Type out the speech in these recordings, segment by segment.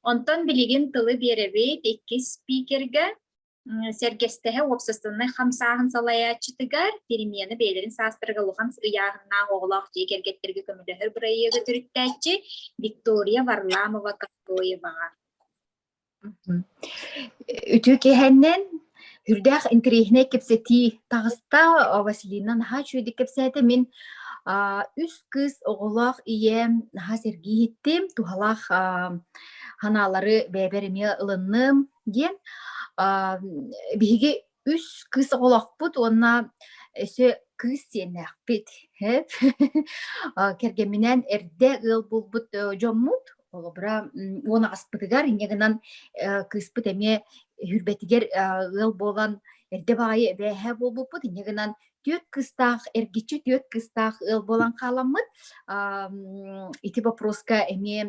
Онтон билигин тылы биэрэбит иккис спикергэ, сэргэстэһэ уопсастыбнай хамсааһын салайааччытыгар, перемены бэйэлэрин саастарыгар улахан ыйааһыннаах оҕолоох дьиэ кэргэттэргэ көмөлөһөр бырайыагы төрүттээччи Виктория Варламова-Кокоеваҕа. Үтүө киэһэннэн Үрдээх интэриэһинэй кэпсэтии таҕыста. Василина наһаа үчүгэйдик кэпсээтэ. Мин үс кыыс оҕолоох ийэм наһаа сэргии иһиттим, туһалаах санаалары бэйэбэр эмиэ ылынным диэн. Биһиги үс кыыс оҕолоохпут уонна өссө кыыс сиэннээхпит. кэргэмминээн эрдэ ыал булбут дьоммут Холобура, уон аҕаспытыгар инньэ гынан кыыспыт эмиэ үрбэтигэр ыал буолан эрдэ баайы эбээһэ буолбуппут инньэ гынан түөрт кыстаах эргиччи түөрт кыстаах ыал буолан хааламмыт ити боппуруоска эмиэ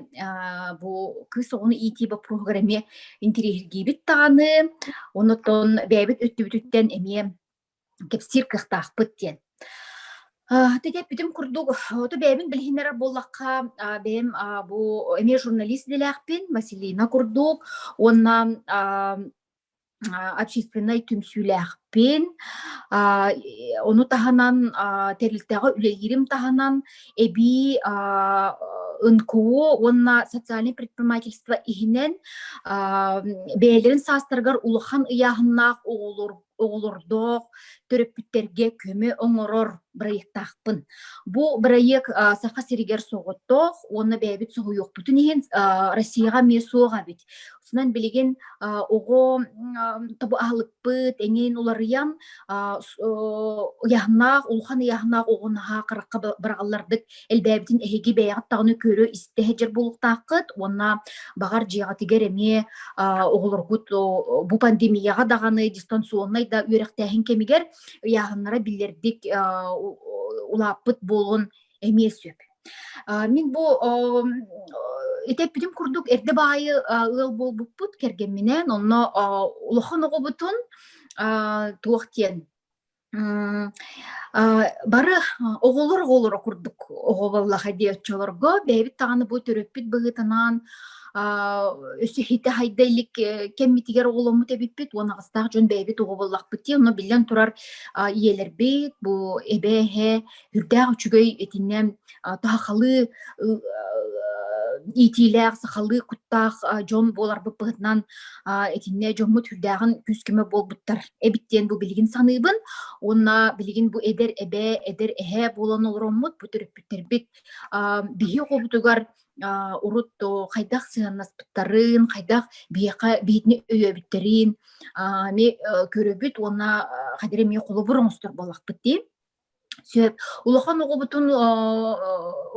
бу кыыс оҕону иитии боппуруоһугар эмиэ интириэһиргиибит даҕаны оннуттан бэйэбит өттүбүтүттэн эмиэ кэпсиир кыахтаахпыт диэн. Тэтэппитим курдук, оту бэйэбин билиһиннэрэр буоллахха, бэйэм бу эмиэ журналист идэлээхпин, Василина курдук, уонна общественнай түмсүүлээхпин. Ону таһынан тэрилтэҕэ үлэлиирим таһынан эбии НКО уонна социальнай предпринимательство иһинэн бэйэлэрин саастарыгар улахан ыйааһыннаах оҕолор оҕолордоох төрөппүттэргэ көмө оҥорор бырайыктаахпын. Бу бырайыак Саха сиригэр соҕоттоох уонна бэйэбит соһуйуохпутун иһин Россияҕа эмиэ суох эбит. Сонан билигин оҕо тобу аһылыкпыт эҥин уларыйан ыйаһнаах улахан ыйаһнаах оҕу наһаа харахха быраҕаллардык элбээбитин эһиги бэйэҕит даҕаны көрө-истэ сылдьар буолуохтааххыт уонна баҕар дьиэҕитигэр эмиэ оҕолоргут бу пандемияҕа даҕаны дистанционнай да үөрэхтээһин кэмигэр ыйааһыннара биллэрдик улааппыт буолуон эмиэ сөп мин бу итэппитим курдук эрдэ баайы ыал буолбуппут кэргэмминээн онно улахан оҕобутун туох диэн Бары оҕолор оҕолоро курдук оҕо буоллаха дии оччолорго бэйэбит даҕаны бу төрөппүт быһыытынан өсөһүүтэ хайда илик кэммитигэр оҕоломмут эбиппит уон аҕыстаах дьон бэйэбит оҕо буоллахпыт дии онно биллэн турар ийэлэрбит бу эбэ эһэ Үрдээх үчүгэй итиннэ таһахалыы иитиилээх, сахалыы куттаах дьон буоларбыт быһытынан итиннэ дьоммут үрдээҕин күүс-көмө буолбуттар эбит диэн бу билигин саныыбын уонна билигин бу эдэр эбээ, эдэр эһээ буолан олороммут бу төрөппүттэрбит биһи оҕобутугар урут хайдах сыһаннаспыттарын, хайдах биһиэхэ биһитини өйөөбүттэрин эмиэ көрөбүт уонна хадыр эмиэ холобур оҥостор буоллахпыт дии. Сөп. Улахан оҕобутун э,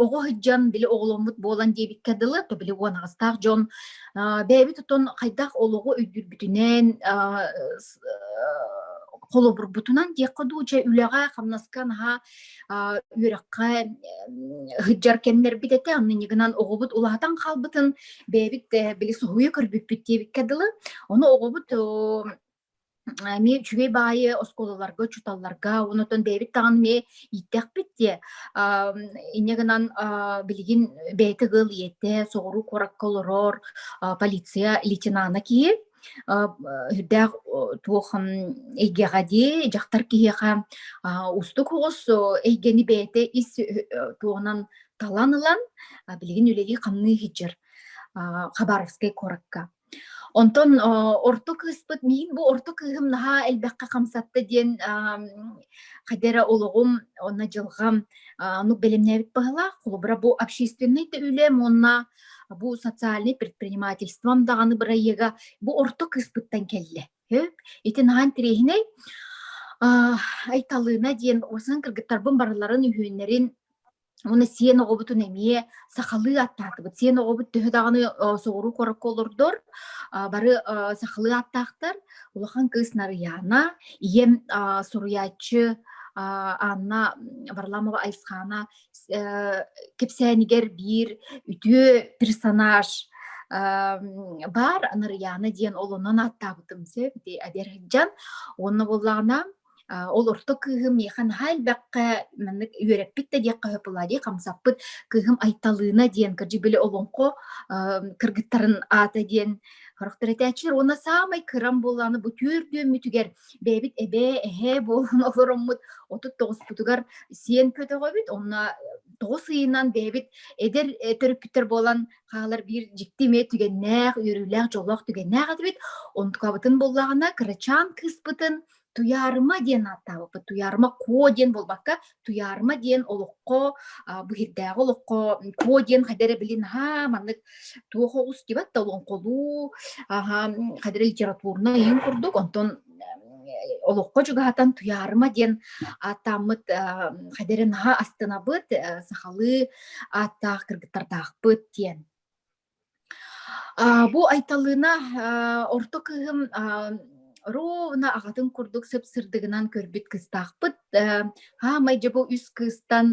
оҕо сылдьан били оҕоломмут буолан диэбиккэ дылы, то били уонаҕастаах дьон бэйэбит отон хайдах олоҕу өйдүүрбүтүнэн холобурбутунан диэххэ дуу дьэ үлэҕэ хамнаска наһаа үөрэххэ сылдьар кэмнэрбит этэ аннынньыгынан оҕобут улаатан хаалбытын бэйэбит били соһуйа көрбүппүт диэбиккэ дылы ону оҕобут эмиэ үчүгэй баайы оскуолаларга учууталларга онотон бэйэбит даҕаны эмиэ ииттэхпит диэ инньэ гынан билигин бэйэтэ ыал ийэтэ соҕуруу куоракка олорор полиция лейтенана киһи үрдээх туох эйгэҕэ дии дьахтар киһиэхэ уустук оҕус эйгэни бэйэтэ ис туһунан талан ылан билигин үлэлии хамныы сылдьар хабаровскай куоракка Онтон орто кыыспыт миин бу орто кыыһым наһаа элбэххэ хамсатта диэн хайда эрэ олоҕум уонна дьылҕам оннук бэлэмнээбит баһылаах холобура бу общественнай да үлэм уонна бу социальнай предпринимательством даҕаны бырайыага бу орто кыыспыттан кэллэ өп ити наһаа интэриэһинэй Айталыына диэн усан кыргыттарбын барыларын үһүөннэрин Уна сиен оҕобутун эмиэ сахалыы аттаатыбыт. Сиен оҕобут төһө даҕаны соҕуруу корокко олордор, бары сахалыы аттаахтар. Улахан кыыс Нарыяна, ийэм суруйааччы Анна Варламова Айсхана кэпсээнигэр биир үтүө персонаж бар Нарыяна диэн олонон аттаабытым сөп ити адерхаджан уонна буоллаҕына Ол орто кыыһым миэхэ наһаа элбэххэ маннык үөрэппит да диэххэ сөп буолаа дии хамсаппыт кыыһым Айталыына диэн кырдьык били олоҥхо кыргыттарын аата диэн харахтар этээччилэр уонна саамай кырам буолааны бу түөрт үөммүтүгэр бэйэбит эбээ эһээ буолан олороммут отут тоҕуспутугар сиэн көтөҕөбүт онно тоҕус ыйынан бэйэбит эдэр төрөппүттэр буолан хаалар биир дьикти эмиэ түгэннээх үөрүүлээх дьоллоох түгэннээх этибит онтукабытын буллаҕына кырачаан кыыспытын Туйаарыма диэн ааттаабыппыт. Туйаарыма Ко диэн буолбакка, Туйаарыма диэн олоххо, бу иһирдээҕи олоххо Ко диэн хайда эрэ били наһаа маннык туох оҕус дибэт да олоҥхолуу, аһа, хайда эрэ литературнай иһин курдук, онтон олоххо чугаһатан Туйаарыма диэн ааттааммыт хайда эрэ наһаа астынабыт, сахалыы ааттаах кыргыттардаахпыт диэн. Аа, бу Айталыына, аа, орто кыыһым, аа, ровно аҕатын курдук сып-сырдыгынан көрбүт кыстаахпыт. Э, хаамай дьэ бу үс кыыстан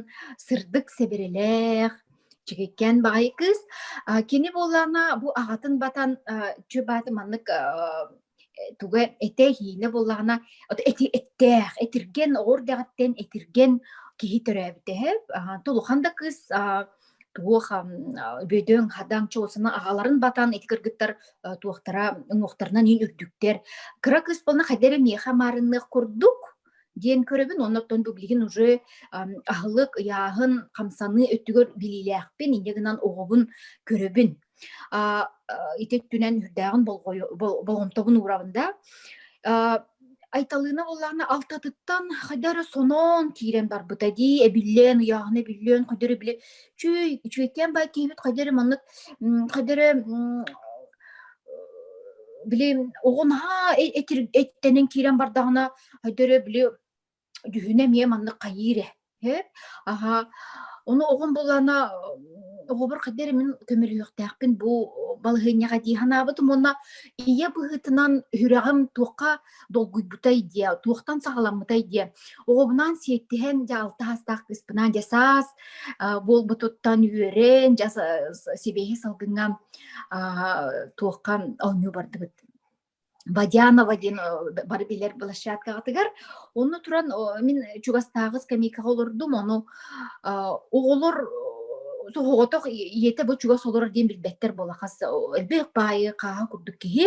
сырдык сэбирэлээх, чигиккээн баҕайы кыыс. А, кини буоллаҕына бу аҕатын батан, а, чү бааты маннык, а, туга эте иһиинэ буллаҕына эти эттээх этирген оҕор дэҕиттэн этирген киһи төрөөбүтэ тулухан да кыыс туох бөдөҥ хадаҥ чуолсана аҕаларын батан ити кыргыттар туохтара уҥуохтарынан иин үрдүктэр кыра кыыс болна хайдары миэхэ маарынныах курдук диэн көрөбүн оннортон бу билигин уже аһылык ыйааһын хамсаныы өттүгэр билиилээхпин инньэ гынан оҕобун көрөбүн ити өттүнэн үрдээҕин болҕомтобун уурабын да Айталыына боллаана алтатыттан хайда эрэ сонон киирэн барбыта дии, эбиллэн, ыйааһына эбиллэн, хайда эрэ били чүй, чүөккээн бай киһибит хайда эрэ маннык хайда эрэ били оҕо наһаа эттэнэн киирэн бардаҕына хайда эрэ били Дьүһүнэ эмиэ маннык хайыыр ээ, эт, аһа. Ону оҕом булана оҕобор хайдах эрэ мин көмөлөһүөхтээхпин бу балаһыанньаҕа дии санаабытым уонна ийэ быһыытынан үһүрэҕим туохха долгуйбутай диэ, туохтан саҕаламмытай диэ, оҕобунаан сиэттиһэн дьаалта саастаах кыыспынаан дьэ саас а, буолбутуттан үөрэн дьэ сибиэһэй салгыҥҥа а, туохха оонньуу бардыбыт. Водянова диэн бары билэр площадкаҕытыгар. Онно туран мин чугастааҕы скамейкаҕа олордум, ону оҕолор соҕотох ийэтэ бу чугас олорор диэн билбэттэр буола хас элбэх баайы хааһан курдук киһи.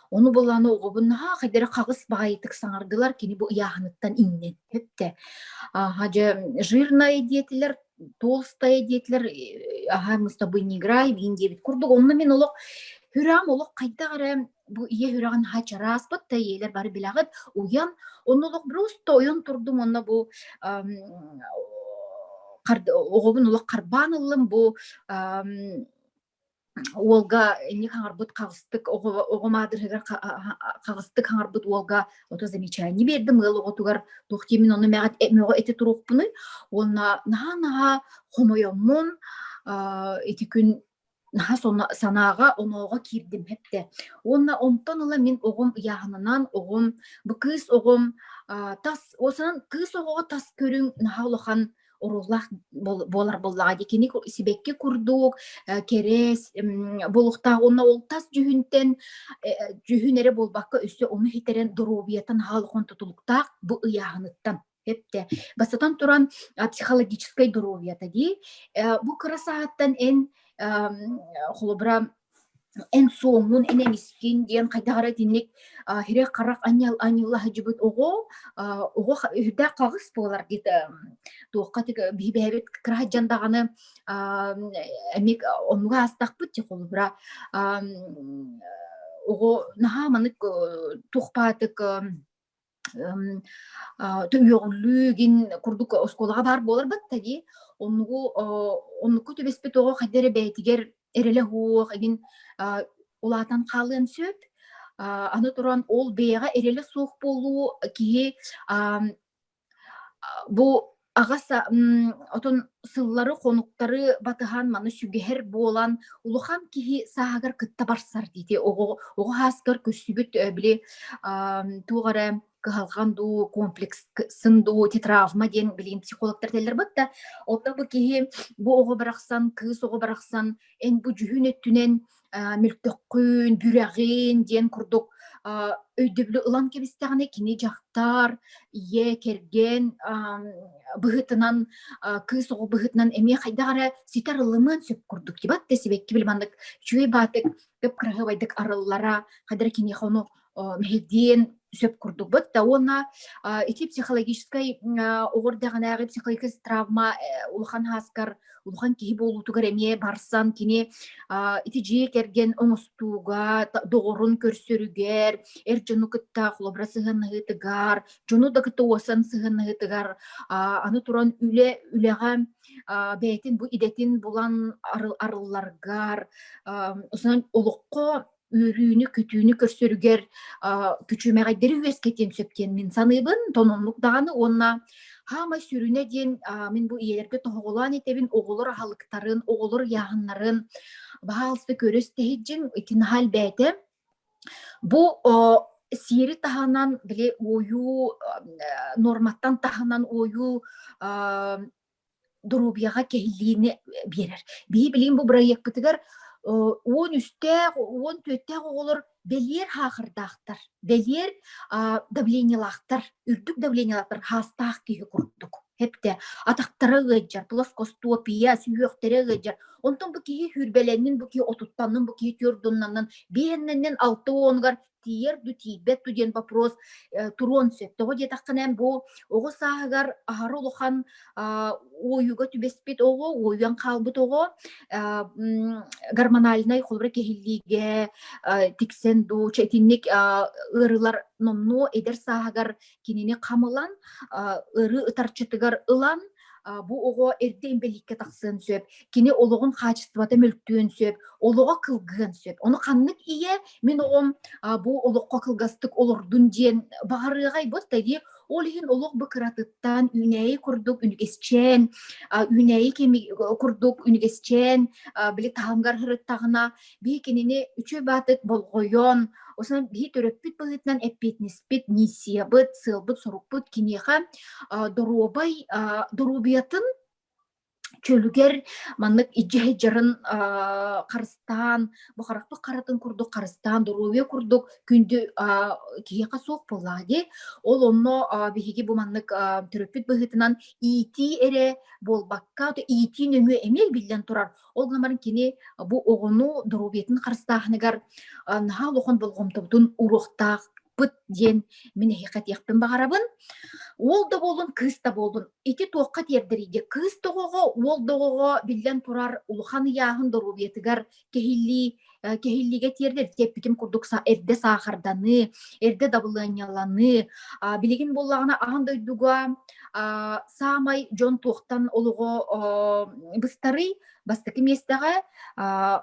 Ону булан оҕобун наһаа хайдары хаҕыс баайытык саҥардылар, кини бу ыйааһыныттан иҥнэн төптө. Дьэ жирная диэтилэр Толстая диэтилэр аха мустабы не играем ин диэбит курдук онно мин олох Хүрам олох хайдах эрэ бу ийэ хүрэҕин хачараспыт да ийэлэр бары билэҕит уйан онно олох просто ойон турдум онно бу оҕобун олох харбаан ыллым бу уолга инник хаҥарбыт хаҕыстык оҕо маадырыһыгар хаҕыстык хаҥарбыт уолга ото замечание биэрдим ыал оҕотугар туох диимин ону мөҕө эти туруохпунуй уонна наһаа наһаа хомойоммун ити күн наһаа санааҕа онооҕо киирдим хэптэ уонна онтон ыла мин оҕом ыйааһынынан оҕом бу кыыс оҕом тас осынан кыыс оҕоҕо тас көрүҥ наһаа улахан оруулах буолар буллаҕа ди кини сибэкки курдук кэрэс булуктаах онно ол тас дьүһүнтэн дьүһүн эрэ буолбакка өссө ону хитэрэн доруобуйаттан хаалыхон тутулуктаах бу ыйааһыныттан Хепте. Бастатан туран психологическай доруобуйата дии. Бу кырасааттан эн холобура эн суоммун, эн эмискин диэн хайдах эрэ итинник хирэх-харах анньал анньыллаһыдьыбыт оҕо оҕо үрдээх хаҕыс буолар диэт туохха бэйэбит кыраһадьан даҕаны эмиик омуга аастахпыт дьэ холобура оҕо наһаа маннык туохпаатык үөҕүллүү гин курдук оскуолаҕа баар буоларбатта дии оннугу оннукку түбэспит оҕо хайда эрэ бэйэтигэр эрэлэ суох эгин улаатан хаалыан сөп аны туран ол бэйэҕэ эрэлэ суох буолуу киһи бу Аҕас отон сыллары, хонуктары батыһан маны сүгэһэр буолан улахан киһи сааһыгар кытта барсар диити оҕо оҕо хааскар көрсүбүт били туох эрэ кыһалҕан дуу комплексын дуу тетравма диэн билигин психологтар тэллэрбит да онно бу киһи бу оҕо барахсан кыыс оҕо барахсан эн бу дьүһүн өттүнэн Э, мөлтөххүн, бүрэҕин диэн курдук а, өйдөбүлү ылан кэбистэҕинэ кини дьахтар, ийэ, кэргэн ам, быһыытынан а, кыыс оҕо быһыытынан эмиэ хайдах эрэ ситэр ылымыан сөп курдук дибат да сибэкки били маннык үчүгэй баатык көп кыраһыабайдык арыллара хайдах эрэ киниэхэ ону диэн сөп курдукбут да уонна ити психологическай оҕор дэҕинээҕи психологическай травма улахан хааскар улахан киһи буолуутугар эмиэ барсан кини ити дьиэ кэргэн оҥостууга доҕорун көрсөрүгэр эр дьону кытта холобура сыһыаннаһыытыгар дьону да кытта уосан сыһыаннаһыытыгар аны туран үлэ үлэҕэ бэйэтин бу идэтин булан арылларгар олоххо үөрүүнү-көтүүнү көрсөрүгэр күчүмэҕэйдэри үөскэтиэн сөп диэн мин саныыбын тономнук даҕаны уонна хаамай сүрүнэ диэн мин бу ийэлэргэ тоһоҕолоон этэбин оҕолор аһылыктарын оҕолор ыйааһыннарын баһаалыста көрөс тэһиджин ити наһаа элбээтэ бу сиэри таһынан били ойуу норматтан таһынан ойуу доруобуйаҕа кэһиллиини биэрэр. Биһи билигин бу бырайыакпытыгар он үстээх, он түөртээх оҕолор бэлиэр хаахырдаахтар, бэлиэр давлениелаахтар, үрдүк давлениелаахтар хаастаах киһи курдук. Хепте атахтара ыаджар, плоскостопия, сүһүөхтэрэ ыаджар. Онтон бу киһи хүрбэлэннин, бу киһи отуттаннын, бу киһи түрдуннаннан, биһэннэннен алты онугар тиийэр ду тиийбэт ду диэн вопрос э, туруон сөп тоҕо диэтэххинэ бу оҕо сааһыгар аһары улахан уойуга түбэспит оҕо уойуан хаалбыт оҕо гормональнай холобура кэһиллиигэ тиксэн ду итинник ыарыылар номнуо эдэр сааһыгар кинини хамылан ыры ытарчытыгар ылан бу оҕо эрдэ инбэлииккэ тахсыан сөп кини олоҕун хаачыстыбата мөлтүөн сөп олоҕо кылгыан сөп ону ханнык ийэ мин оҕом бу олоххо кылгастык олордун диэн баҕарыаҕай бу тайди ол иһин олох бу кыратыттан үүнээйи курдук үнүгэсчээн үүнээйи курдук үнүгэсчээн били таһымгар сырыттаҕына бии кинини үчү баатык болҕойон, осонон биһи төрөппүт быһыытынан эппиэтинэспит, миссиябыт, сыалбыт-сорукпут киниэхэ доруобай, доруобуйатын чөлүгэр маннык идьэһдьарын харыстаан, бу харахпыт харатын курдук харыстаан, доруобуйа курдук күндү киһиэхэ суох буоллаҕа дии. Ол онно биһиги бу маннык төрөппүт быһыытынан иитии эрэ буолбакка, иитии нөҥүө эмиэ биллэн турар Ол гамар кини бу оҕону доруобиятын харыстааһыныгар наһаа улахан болҕомтобутун уруохтаах пыт диэн мин эһиэхэ диэхпин баҕарабын. Уол да буолун, кыыс да буолун, ити туохха тиэрдэрийгэ кыыс доҕоҕо, уол доҕоҕо биллэн турар улахан ыйааһын доруобиятыгар кэһиллии кэһиллиигэ тиэрдэр эппитим курдук эрдэ саахарданы, эрдэ дабылыанньаланы, билигин буоллаҕына аан дойдуга саамай дьон туохтан олоҕо быстарый бастакы миэстэҕэ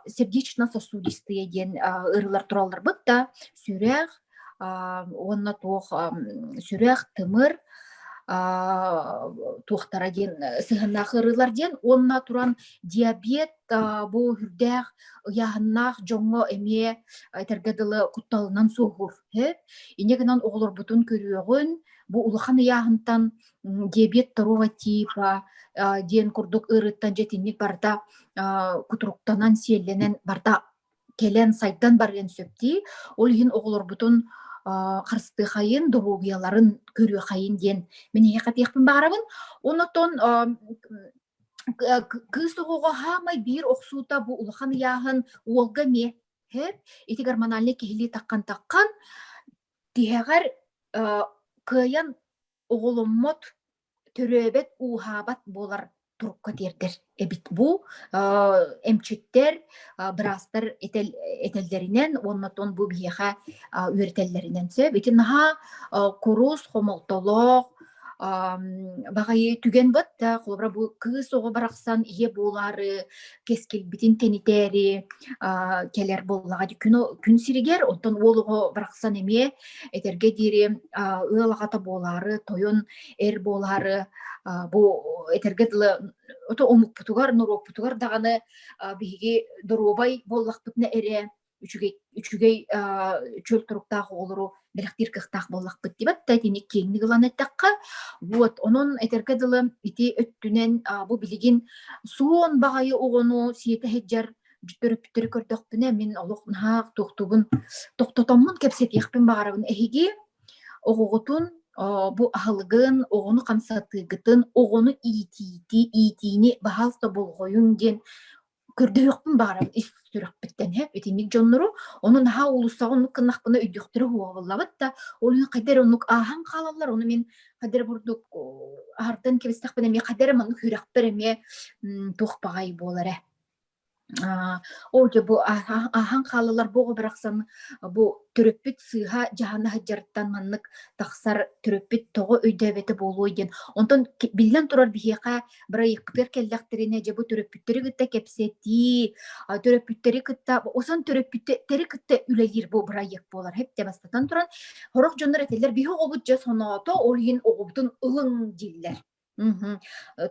сердечно сосудистые диэн ырылар туралларбыт да сүрэх уонна туох сүрэх, тымыр туохтара диэн сыһыаннаах ыарыылар диэн уонна туран диабет бу үрдээх ыйааһыннаах дьоҥҥо эмиэ этэргэ дылы кутталынан суоһуур инньэ гынан оҕолорбутун көрүөҕүн бу улахан ыйааһынтан диабет второго типа диэн курдук ыарыыттан дьэтинник барыта кутуруктанан сиэллэнэн барыта кэлэн сайдан барыан сөптүү ол иһин оҕолорбутун харыстыахайын добуобуйаларын көрүөхайын диэн мин эһиэхэтиэхпин баарабын оннотон кыыс оҕоҕо саамай биир охсуута бу улахан ыйааһын уолга миэхэ ити гормональнай киһилии таххан таххан тиһэҕэр кыайан оҕоломмот, төрөөбөт, ууһаабат буолар турукка тиэрдэр эбит бу. эмчиттэр, быраастар этэллэринэн уонна тон бу биһиэхэ үөрэтэллэринэн сөп. Ити наһаа курус, хомолтолоох, баҕайы түгэн быт, холобура бу кыыс оҕо барахсан ийэ буолаары кэскилбитин тэнитээри кэлэр буоллаҕа күн күн сиригэр оттон уол оҕо барахсан эмиэ этэргэ диэри ыал аҕата буолаары тойон эр буолаары бу этэргэ дылы ото омукпутугар норуоппутугар даҕаны биһиги доруобай буоллахпытына эрэ үчүгэй үчүгэй чөл туруктаах оҕолору бэлэхтиир кыахтаах буоллахпыт дибатта итини киэҥник ылан эттэххэ вот онон этэргэ дылы ити өттүнэн бу билигин суон баҕайы оҕону сиэтэ сылдьар төрөппүттэри көрдөхпүнэ мин олох наһаа тохтубун тохтотоммун кэпсэтиэхпин баҕарабын эһиги оҕоҕутун бу аһылыгын оҕону хамсатыыгытын оҕону иитиити иитиини баһаалта болҕойуҥ диэн көрдөһүөхпүн баҕарабын ис сүрэхпиттэн һэ итинник дьоннору ону наһаа уулуссаҕа оннук гыннахпына өйдüөхтэрэ уһуоҕабыллабыт да ол иһин хайда эрэ оннук ааһан хаалаллар ону мин хайда эрэ бурдук аһартан кэбистэхпинэ эмиэ хайда эрэ маннык үһүрэхпэр эмиэ туох баҕай буолара ол дьэ бу ааһан хаалаллар бу оҕо барахсан бу төрөппүт сыыһа дьаһана сылдьарыттан маннык тахсар төрөппүт тоҕо өйдөөбөтө буолуой диэн онтон биллэн турар биһиэхэ бырайыакпытыгар кэллэхтэринэ дьэ бу төрөппүттэри кытта кэпсэтии төрөппүттэри кытта осон төрөппүттэри кытта үлэлиир бу бырайыак буолар хэпте бастатан туран сорох дьоннор этэллэр биһи оҕобут дьэ соноото ол иһин оҕобутун ылыҥ дииллэр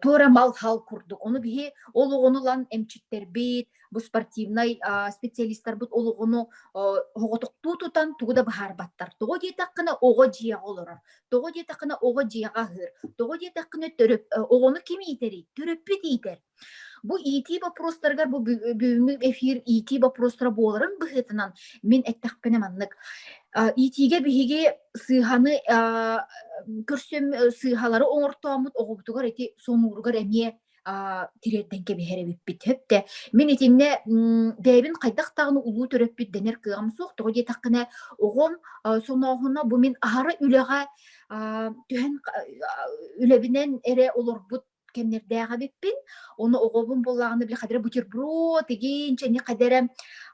туора мал хал курдук ону биһи ол оҕону ылан эмчиттэрбит бу спортивнай специалистарбыт олоҕуну оҕотоктуу тутан тугу да быһаарбаттар. Тоҕо диэтэххинэ оҕо дьиэҕэ олорор. Тоҕо диэтэххинэ оҕо дьиэҕэ аһыыр. Тоҕо диэтэххинэ төрөп оҕону ким иитэрий? Төрөппүт иитэр. Бу иитии боппуруостарыгар бу бүгүҥҥү эфир иитии боппуруостара буоларын быһыытынан мин эттэхпинэ маннык иитиигэ биһиги сыыһаны көрсөм сыыһалары оҥортооммут оҕобутугар ити сонууругар эмиэ тириэрдэн кэбиһэр эбиппит хөптө мин итиннэ бэйэбин хайдах даҕаны улуу төрөппүт дэнэр кыаҕым суох тоҕо диэтэххинэ оҕом сонооһуна бу мин аһара үлэҕэ түһэн үлэбинэн эрэ олорбут кэмнэрдээх эбиппин ону оҕобун буоллаҕына били хадара бутерброд игин чэни хадара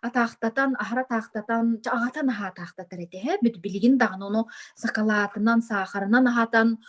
атаахтатан аһара атаахтатан аҕатан аһаатаахтатар этэ билигин даҕаны ону сакалаатынан саахарынан аһатан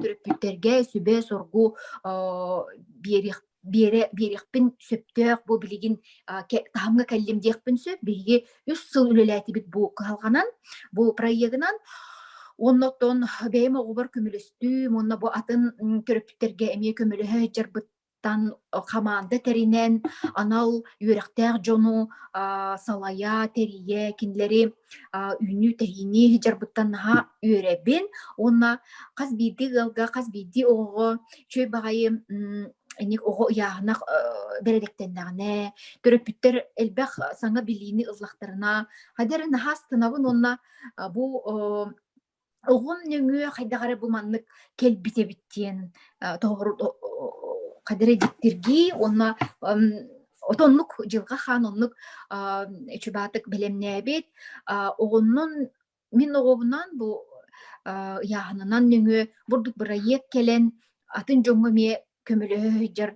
төрөппүттэргэ сүбэ-соргу биэрэ биэриэхпин сөптөөх бу билигин таһымҥа кэллим диэхпин сөп биһиги үс сыл үлэлээтибит бу кыһалҕанан бу проегынан Онно оттон бэйэм оҕобор көмөлөстүүм, уонна бу атын төрөппүттэргэ эмиэ көмөлөһө сылдьарбыт Тан хамаанда тэринэн, анал үөрэхтээх дьону а, салайа, тэрийэ, кинилэри а, үүнүү-тэһиини иһдьарбыттан наһаа үөрэбин уонна хас биирдии ыалга, хас биирдии оҕоҕо үчүгэй баҕайы инник оҕо ыйааһынах бэрэдэктэннэҕинэ, төрөппүттэр элбэх саҥа билиини ыллахтарына, хайда эрэ наһаа астынабын уонна бу Оҕом нөҥүө хайдах эрэ бу маннык кэлбит эбит диэн, э, тоһоҕор о о хадары дьиктиргии уонна, ам, ото оннук Дьылҕа Хаан оннук, ам, чубаатык бэлэмнээбит. А, оҕоннон мин оҕобунаан бу, а, ыйааһынынан нөҥүө бурдук бырайыак кэлэн, атын дьоҥҥо эмиэ көмөлөһөр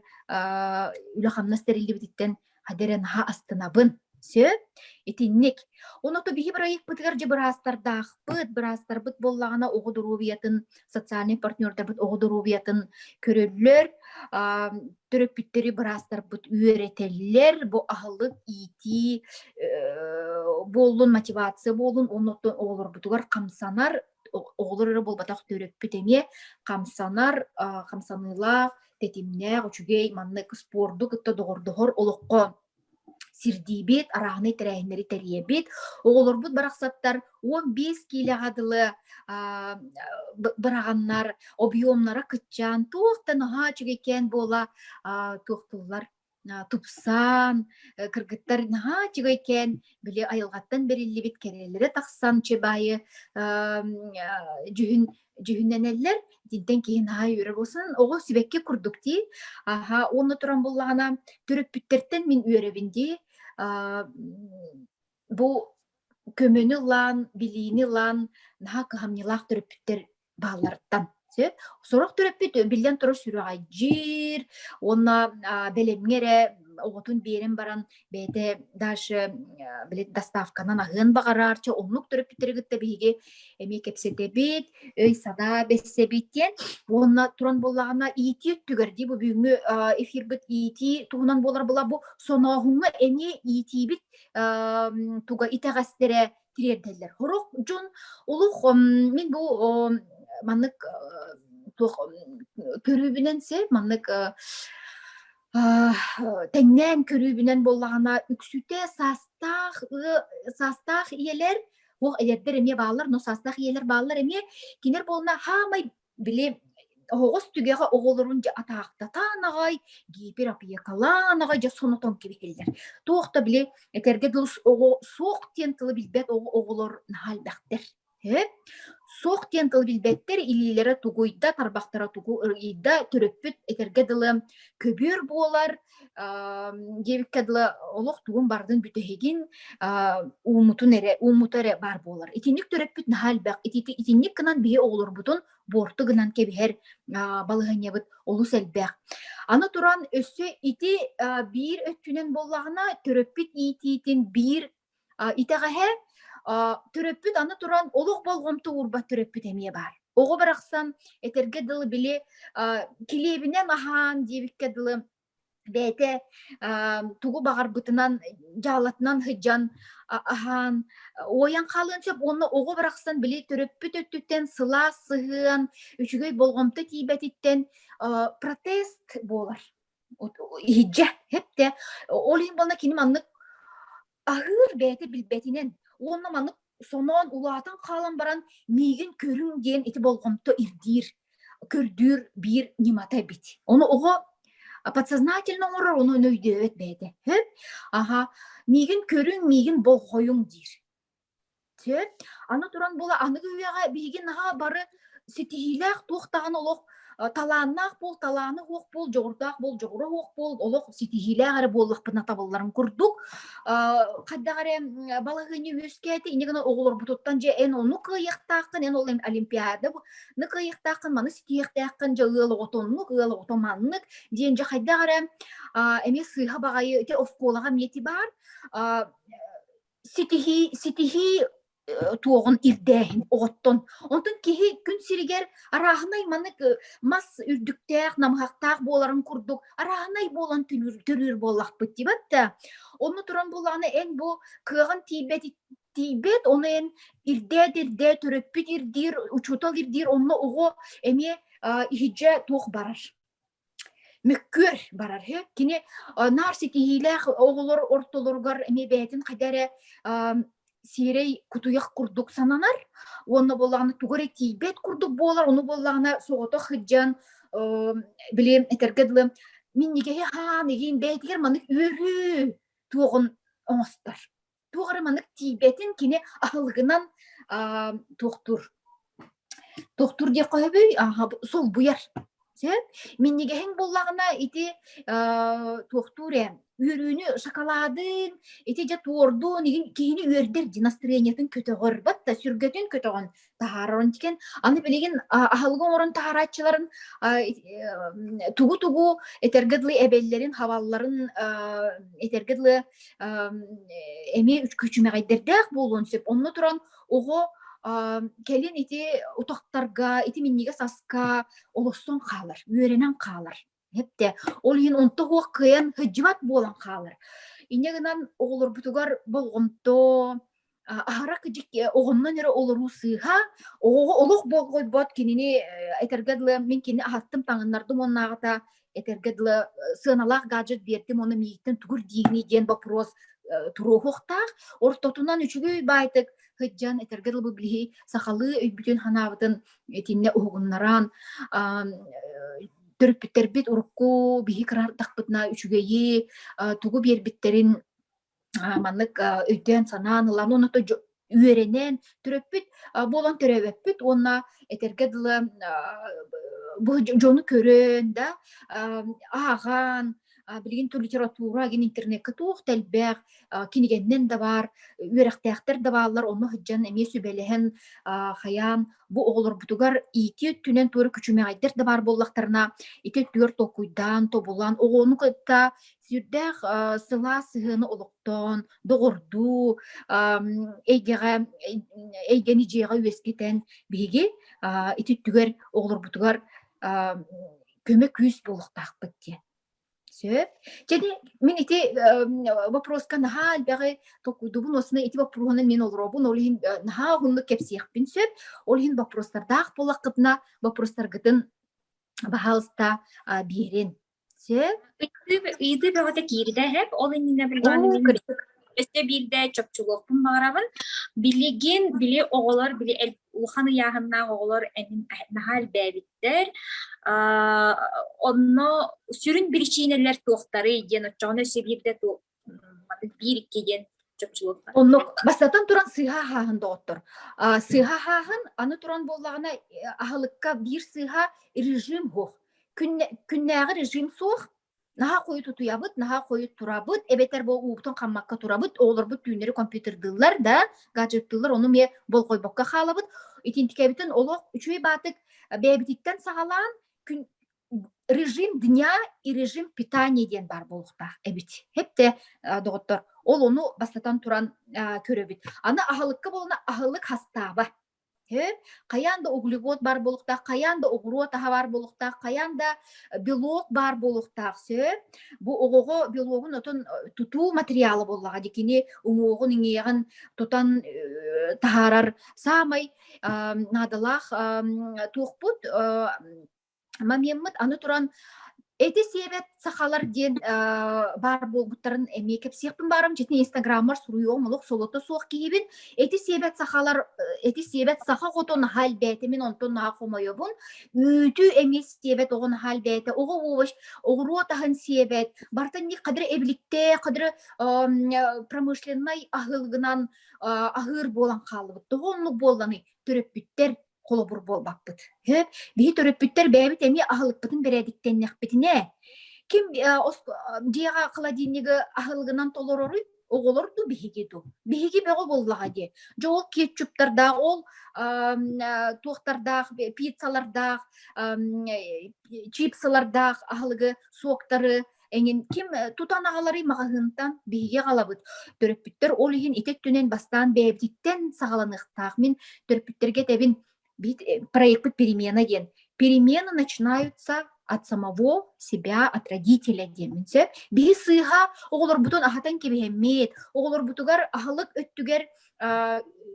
үлэ-хамнас тэриллибититтэн хадэрэ наһаа астынабын. Сөп. Итинник. Онуто биһи бырайыкпытыгар же быраастардаахпыт, быраастарбыт боллаҕына оҕо доруобуйатын, социальный партнердарбыт оҕо доруобуйатын көрөллөр, төрөппүттэри быраастарбыт үөрэтэллэр, бу аһылык иитии буоллун, мотивация буолун, оннотон оҕолорбутугар хамсанар оҕолор эрэ буолбатах төрөппүт эмиэ хамсанар хамсаныылаах тэтимнээх үчүгэй маннык спорду кытта доҕордоһор олоххо сирдиибит арааһынай тэрээһиннэри тэрийэбит оҕолорбут барахсаттар он биэс киилэҕэ дылы быраҕаннар объемнара кыччаан туох да наһаа үчүгэйкээн буола туохтуллар тупсан, кыргыттар наһаа үчүгэй кээн били айылҕаттан бэриллибит кэрэлэрэ тахсан чыбайы дьүһүн дьүһүннэнэллэр итинтэн киһи наһаа үөрэ буолсан оҕо сибэкки курдук дии аха уонна туран буллаҕына төрөппүттэртэн мин үөрэбин дии Бу көмөнү ылан, билиини ылан наһаа кыһамньылаах төрөппүттэр баалларыттан. Сөп? Сорох төрөппүт биллэн турар сүрэҕэйдьиир уонна а, бэлэмҥэ эрэ оҕотун биэрэн баран бэйэтэ дальше били доставканан аһыан баҕараарчы оннук төрөппүттэри кытта биһиги эмиэ кэпсэтэбит, өй-санаа бэссэбит диэн уонна туран буоллаҕына иитии өттүгэр дии бу бүгүҥҥү эфирбит иитии туһунан буолар була бу сонооһуҥҥа эмиэ иитиибит туга итэҕэстере тириэрдэллэр. Хорох дьон олох мен бу маннык туох көрүүбүнэн се маннык тэҥнээн көрүүбүнэн боллаҕына үксүтэ саастаах саастаах ийэлэр ол эдэрдэр эмиэ бааллар но саастаах ийэлэр бааллар эмиэ кинер буолна хаамай Били оһоҕос түгэҕэ оҕолорун дьэ атаахтатаан аҕай гиперопекалаан аҕай дьэ сонотон кэбиһэллэр. Туох да били этэргэ дылы оҕо суох диэн тылы билбэт оҕолор наһаа элбэхтэр. Ээ суох диэн тылы билбэттэр илиилэрэ тугуйда, тарбахтара тугу ырыйда, төрөппүт этэргэ дылы көбүөр буолар, диэбиккэ дылы олох тугун бардын бүтэһигин уумутун эрэ уумута эрэ баар буолар итинник төрөппүт наһаа элбэх итинник гынан биһи оҕолорбутун буорту гынан кэбиһэр балаһынньабыт олус элбэх аны туран өссө ити биир өттүнэн буоллаҕына төрөппүт иитиитин биир итэҕэһэ төрөппүт аны туран олох болҕомто уурбат төрөппүт эмиэ баар. Оҕо барахсан этэргэ дылы били килиэбинэн аһаан диэбиккэ дылы бэйэтэ тугу баҕарбытынан дьаалатынан сыдьан аһаан уойан хаалыан сөп уонна оҕо барахсан били төрөппүт өттүттэн сылаас сыһыан үчүгэй болҕомто тиийбэтиттэн протест буолар иһирдьэ хэптэ ол иһин буолла кини маннык аһыыр бэйэтэ билбэтинэн уонна маннык соноон улаатан хаалан баран миигин көрүҥ диэн ити болҕомто ирдиир көрдүүр биир ньымата эбит ону оҕо подсознательно оҥорор ону өйдөөбөт бэйэтэ хөп аха миигин көрүҥ миигин болҕойуҥ диир Сөп. Аны туран була аныгы үйэҕэ биһиги наһаа бары ситиһиилээх туох даҕаны олох талааннаах буол, талаана суох буол, дьоҕурдаах буол, дьоҕура суох буол, олох ситиһиилээх эрэ буоллахпына табылларын курдук. Э, хайдах эрэ балаһыанньа үөскээтэ, инньэ гынан оҕолорбутуттан дьэ эн ону кыайыахтааххын, эн ол Олимпиада ну кыайыахтааххын, маны ситиһиэхтээххин дьэ ыал оҕото оннук, ыал оҕото маннык, диэн дьэ хайдах эрэ эмиэ сыыһа баҕайы ити оскуолаҕа эмиэ баар. ситиһии, ситиһии туоҕун ирдээһин оҕоттон. Онтон киһи күн сиригэр арааһынай маннык мас үрдүктээх, намыһахтаах буоларын курдук арааһынай буолан төрүүр буоллахпыт дибэт да. Онно туран буллаҕына эн бу кыаҕын тиийбэт тиийбэт, оны эн ирдээт ирдээ төрөппүт ирдиир, учуутал ирдиир, онно оҕо эмиэ иһиджэ туох барар. Мөккүөр барар үһү. Кини наар ситиһиилээх оҕолор ортолоругар эмиэ бэйэтин хайда эрэ сиэрэй кутуйах курдук сананар. Уонна буоллаҕына тугу эрэ тиийбэт курдук буолар. Ону буоллаҕына соҕотох сылдьан билим этэргэ дылы минньигэһи хаан игиин бэйэтигэр маннык үөрүү туоҕун оҥостор. туох эрэ маннык тиийбэтин кини аһылыгынан аа, туохтуур туохтуур диэххэ сөбүй солбуйар сөп минньигэһиҥ буллаҕына ити туохтуур ээ үөрүүнү шоколадын ити дьэ туордун киһини үөрдэр дии настроениетын көтөҕөр да сүргэтин көтөҕөн таһаарарын тикен аны билигин аһылыгы оҥорон таһаарааччыларын тугу-тугу этерге дылы эбэллэрин хавалларын этерге дылы эми күчүмэҕэйдэрдээх буолуон сөп онно туран оҕо кэлин ити утахтарга ити миннигэ саска олостон хаалар үөрэнэн хаалар Эптэ, ол иһин онто хуох кыайан һыддьымат буолан хаалар. Иньэ гынан оҕолорбутугар болҕомто, аһара кыдьык оҕомнон эрэ олоруу сыыһа, оҕоҕо олох болҕойбот кинини этэргэ дылы мин кини аһаттым таҥыннардым уоннааҕыта этэргэ дылы сыаналаах гаджет биэрдим уонна миигиттэн тугур диигиний диэн боппуруос туруоһуохтаах. Ортотунан үчүгэй баайтык һыддьан этэргэ дылы бу билиһи сахалыы өйбүтүн-санаабытын итиннэ уһугуннаран төрөппүттэрбит урукку биһи кыраардахпытына үчүгэйи тугу биэрбиттэрин маннык өйдөөн-санаан ылан оны үөрэнэн төрөппүт буолан төрөөбөппүт уонна этэргэ дылы бу дьону көрөн да ааҕан билигин тыл литература гин интернетке туох тэлбэх кинигеннен да бар үөрэхтээхтер да бааллар онно сыдьан эмиэ сүбэлэһэн хаян бу оҕолорбутугар иити өттүнэн туора күчүмэҕэйдер да бар боллахтарына ити түөр токуйдаан тобулан оҕону кытта сүрдээх сылаас сыһыаны олохтоон доҕордуу эйгэҕэ эйгэни дьиэҕэ үөскэтэн биһиги ити түгэр оҕолорбутугар көмө күүс буолуохтаахпыт диэн. Сөп. Және мин ити вопроска наһаа элбэҕи толкуйдубун осына ити вопроһунан мен олоробун ол иһин наһаа уһуннук кэпсиэхпин сөп ол иһин вопростардаах буоллаххытына вопростаргытын баһаалыста биэрин сөп ыйытыы бөҕөтө киирдэ эһэп ол иннинэ билбэҕэ өссө биирдэ чопчулуохпун баҕарабын билигин били оҕолор били улахан ыйааһыннаах оҕолор наһаа элбээбит Онно сүрүн биричиинэлэр туохтарый диэн оччоҕуна өссө биирдэ туох биир икки диэн чопчулуохха. Оннук бастатан туран сыыһа аһааһын доҕоттор. Сыыһа аһааһын аны туран буоллаҕына аһылыкка биир сыыһа режим суох. Күннээҕи режим суох, наһаа хойут утуйабыт, наһаа хойут турабыт, эбэтэр бу уубутун хаммакка турабыт, оҕолорбут түүннэри компьютердыыллар да, гаджеттыыллар, ону эмиэ болҕойбокко хаалабыт. Итинтикэбитин олох үчүгэй баатык бэйэбититтэн саҕалаан күн режим дня и режим питания диэн баар буолуохтаах эбит. Хэпте доҕоттор ол ону бастатан туран көрөбүт. Аны аһылыкка буолана аһылык хастааба. Һэ, хайаан да углевод баар буолуохтаах, хайаан да оҕуруот аһа баар буолуохтаах, хайаан да белок баар буолуохтаах. Сөп. Бу оҕоҕо белогун отун тутуу материала буоллаҕа дии. Кини уҥуоҕун, иҥиэҕин тутан таһаарар саамай наадалаах туохпут мамьяммыт аны туран эти сиэбэт сахалар диэн баар буолбуттарын эмиэ кэпсиэхпин баарым дьиtin инстаграммар суруйуом олох солото суох киһибин эти сиэбэт сахалар эти сиэбэт саха хоту наһаа элбээтимин онтон наһаа хомойобун үүтү эмиэ сиэбэт оҕо наһаа элбээтэ оҕо овощ оҕуруот аһын сиэбэт бартан ник қадыр эбиликте қадыр промышленнай аһылыгынан аһыыр буолан хаалыбыт тоҕо оннук буолланы төрөппүттэр холобур буолбаппыт. Биһи төрөппүттэр бэйэбит эмиэ аһылыкпытын бэрээдиктэннэхпитинэ, ким дьиэҕэ холодильнигы аһылыгынан толороруй оҕолор ду биһиги ду биһиги бөҕө буоллаҕа дии дьэ ол кетчуптардаах ол туохтардаах пиццалардаах чипсылардаах аһылыгы суоктары эҥин ким тутан аҕаларый маҕаһыынтан биһиги аҕалабыт төрөппүттэр ол иһин ити өттүнэн бастаан бэйэбититтэн саҕаланыахтаах мин төрөппүттэргэ этэбин проекпыт перемена диэн перемены начинаются от самого себя от родителя диэммин сөп биһи сыыһа оҕолорбутун аһатан кэбиһэммит оҕолорбутугар аһылык өттүгэр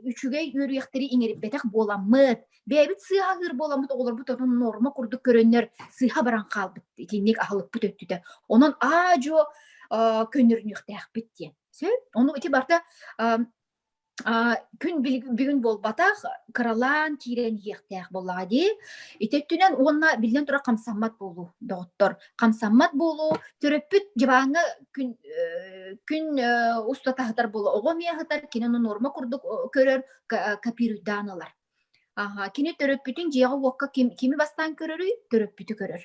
үчүгэй үөрүйэхтэри иҥэриппэтэх буоламмыт Бэйэбит сыыһалыыр буоламмыт оҕолорбут ону норма курдук көрөннөр сыыһа баран хаалбыт итинник аһылыкпыт өттүтэ. Онон аа-дьуо көннөрүнүөхтээхпит диэн. Сөп. Ону ити барта күн бүгүн буолбатах кыралаан киирэн иһиэхтээх буоллаҕа дии. Ити өттүнэн уонна биллэн турар хамсаммат буолуу, доҕоттор. Хамсаммат буолуу төрөппүт дьыбааҥҥа күн күн устата аһатар буола оҕо эмиэ аһатар, кини ону норма курдук көрөр, копируйдаан ылар. Аха, кини төрөппүтүн дьиэҕэ-уокка ким кими бастаан көрөрүй? Төрөппүтү көрөр.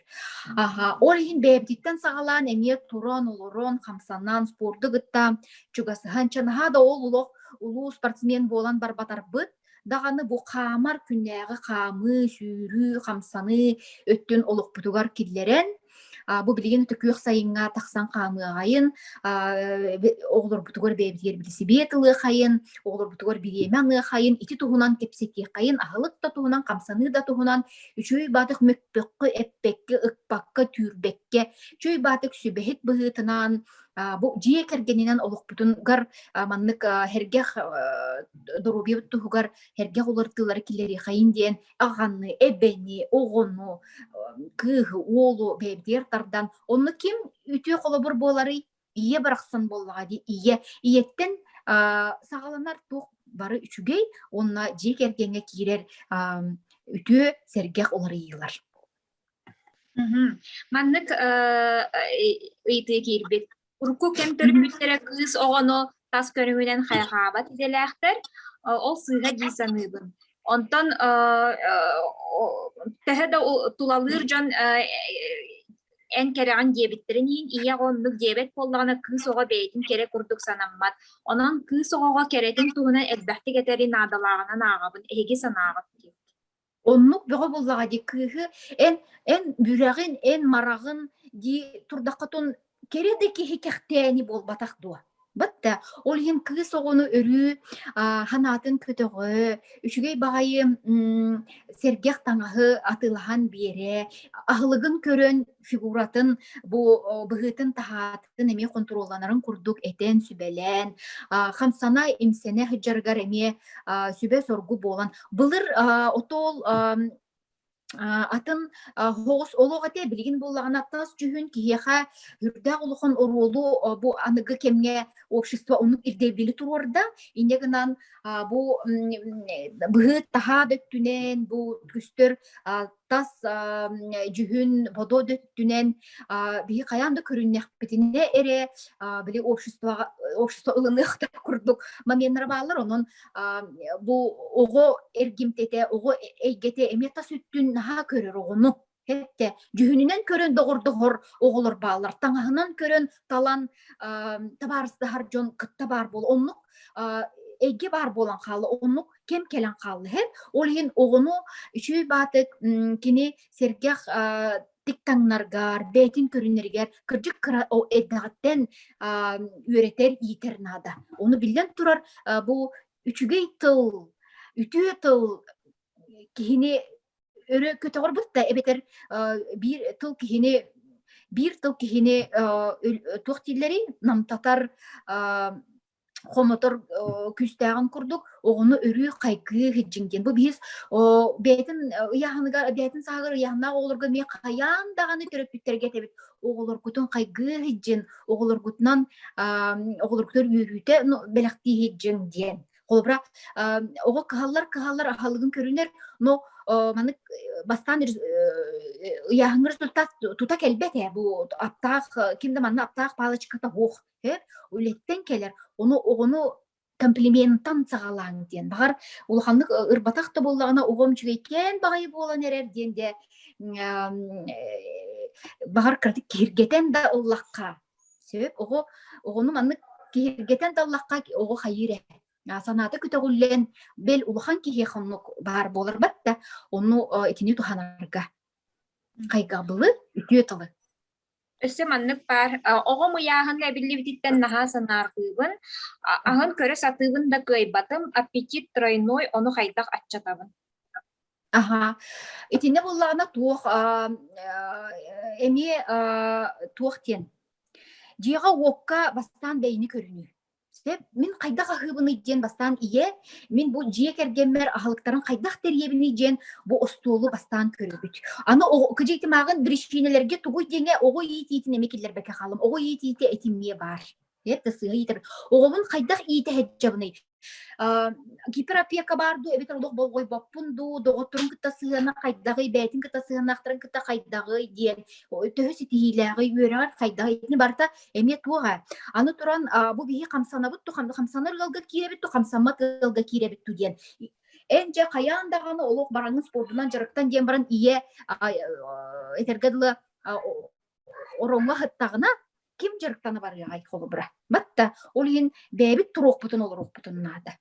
Аха, ол иһин бэйэбититтэн саҕалаан эмиэ туран, олорон, хамсанан, спорду кытта чугасыһан, чэ наһаа да ол олох улуу спортсмен буолан барбатарбыт даҕаны бу хаамар күннээҕи хаамыы, сүүрүү, хамсаныы өттүн олохпутугар киллэрэн Бу билигин төкүөх сайыҥҥа тахсан хаамыаҕайын, оҕолорбутугар бэйэбитигэр сибиэт ылыахайын, оҕолорбутугар бириэмэ аныахайын, ити туһунан кэпсэтиэххайын, аһылык да туһунан, хамсаныы да туһунан үчүгэй баатык мөкпөккө, эппэккэ, ыкпакка, түүрбэккэ, үчүгэй баатык сүбэһит быһыытынан бу дьиэ кэргэнинэн олохпутунгар маннык э, э, сэргэх доруобуйабыт туһугар сэргэх уларытыылары киллэриэхэйин диэн аҕаны, эбэни, оҕону, кыыһы, уолу бэйэбитигэр тардан, онно ким үтүө холобур буоларый? Ийэ барахсан буоллаҕа дии, ийэ. Ийэттэн саҕаланар туох бары үчүгэй, уонна дьиэ кэргэҥҥэ киирэр үтүө сэргэх уларыйыылар. Маннык ыйытыы киирбит. Урукку кэм төрөппүттэрэ кыыс оҕону тас көрүҥүнэн хайҕаабат идэлээхтэр, ол сыыһа дии саныыбын. Онтон төһө да тулалыыр дьон эн кэрэҕин диэбиттэрин иһин ийэ оҕо оннук диэбэт буоллаҕына кыыс оҕо бэйэтин кэрэ курдук санаммат. Онон кыыс оҕоҕо кэрэтин туһунан элбэхтик этэри наадалааҕынан ааҕабын. Эһиги санааҕыт Оннук бөҕө буоллаҕа дии кыыһы эн эн бүрэҕин, эн мараҕын дии турдаххытун кэрэ да киһи кэхтээни буолбатах дуо? Батта ол иһин кыыс оҕону өрүү аа, санаатын көтөҕө, үчүгэй баҕайы м, сэргэх таҥаһы атыылаһан биэрэ, аһылыгын көрөн фигуратын бу быһыытын таһаатын эмиэ хонтуруолланарын курдук этэн сүбэлээн хамсана имсэнэ сыдьарыгар эмиэ сүбэ соргу буолан былыр отол атын хоҕус олох этэ билигин буллаҕына тас дьүһүн киһиэхэ үрдээх улахан оруолу бу аныгы кэмҥэ общество оннук ирдэбили туруорда инньэ гынан бу быһыыт таһаа да өттүнэн бу көстөр тас дьүһүн бодо өттүнэн биһи хайаан да көрүннэхпитинэ эрэ били обществоҕа общество ылыныахтар курдук моменнара бааллар онон бу оҕо эргимтэтэ оҕо эйгэтэ эмиэ тас өттүн наһаа көрөр оҕону Хэтте дьүһүнүнэн көрөн доҕордоһор оҕолор бааллар таҥаһынан көрөн талан табаарыстаһар дьон кытта баар буол оннук эйгэ баар буолан хаала оннук кем келен қалды хет ол иһин оғону үчүй баатык кини сергэх тиктаңнаргар бэйтин көрүннэригэр кырдьык кыра эдэҕиттэн үөрэтэр иитэр наада ону биллэн турар бу үчүгэй тыл үтүө тыл киһини өрө көтөҕөр бутта эбэтэр биир тыл киһини биир тыл киһини туох дииллэри намтатар хомотор күүстээҕин курдук оҕону өрүү хайгыы иһитжиҥ диэн бу биһиз бэйэтин ыйааһыныгар бэйэтин сааһыгар ыйааһыннаах оҕолорго эмиэ хайаан даҕаны төрөппүттэргиэтэбит оҕолоргутун хайгыы иһитжин оҕолоргутунан оҕолоргутугар үөрүүтэ бэлэхтии иһитжиҥ диэн холобура оҕо кыһаллар кыһаллар аһылыгын көрүнэр но маннык бастаан ыйааһыҥҥа результат тута кэлбэт ээ бу аптаах ким да манна аптаах палочката суох үлэттэн кэлэр ону оҕону комплиментан саҕалааҥ диэн баҕар улаханнык ырбатах да буоллаҕына оҕом үчүгэйкээн баҕайы буолан эрэр диэн де баҕар кыратык киһиргэтэн да ыллахха сөп оҕо оҕону маннык киһиргэтэн да ыллахха оҕо хайыыр эһэ санаата көтөҕүллэн бэл улахан киһи хоннук баар буолар бат да ону итини туһанарга хайгабылы үтүө тылы Өссө маннык баар, оҕом ыйааһыҥҥа эбиллибититтэн наһаа санаахтыыбын, аһын көрө сатыыбын да кыайбатым, аппетит тройной, ону хайдах аччатабын? Аһа. Итиннэ буоллаҕына туох, аа, эмиэ, аа, туох диэн? Дьиэҕэ уокка бастаан бэйэни көрүнүү. Сөп, мин хайдах аһыыбыный диэн бастаан ийэ, мин бу дьиэ кэргэммэр аһылыктарын хайдах тэрийэбиний диэн бу остуолу бастаан көрөбүт. Аны кыдьыйтымааҕын биричиинэлэргэ тугуй диэҥэ оҕо иитиитин эми киллэрбэккэ хаалым. Оҕо иитиитэ этимиэ баар. Эт сыыһа иитэр. Оҕобун хайдах иитэһэддьэбиний? гиперопека баар дуу эбэтэр олох болҕойбоппун дуу доҕотторун кытта сыһыана хайдаҕый бэйэтин кытта сыһыаннаахтарын кытта хайдаҕый диэн төһө ситиһиилээҕий үөрэҕэр хайдаҕый итини барыта Эмиэ туоҕа. Аны туран, бу биһи хамсанабыт то хамсанар ыалга киирэбит то хамсаммат ыалга киирэбит ту диэн эн дьэ хайаан даҕаны олох бараҥҥын спордунан дьарыктан диэн баран ийэ этэргэ дылы ороҥҥо ыһыттаҕына ким дьарыктана барыаҕай холобура батта ол иһин бэйэбит туруохпутун олоруохпутун наада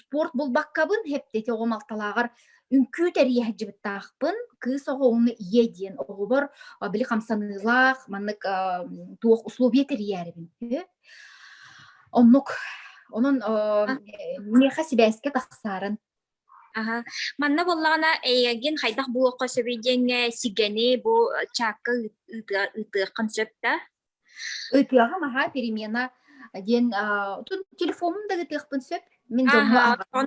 спорт булбаккабын хептети оҕо малталааҕар үҥкүү тэрийэ сылдьыбыттаахпын кыыс оҕоҕуну ийэ диэн оҕобор били хамсаныылаах маннык туох условия тэрийээрибин оннук онон миэхэ сибээскэ тахсарын Аха. Манна буоллаҕына эйигин хайдах булуохха сөбүй диэҥҥэ сигэни бу чаакка ыытыаххын сөп да? Ытыаҕым аһаа перемена диэн телефонум да гытыахпын сөп мин дьоҥҥо ааҕан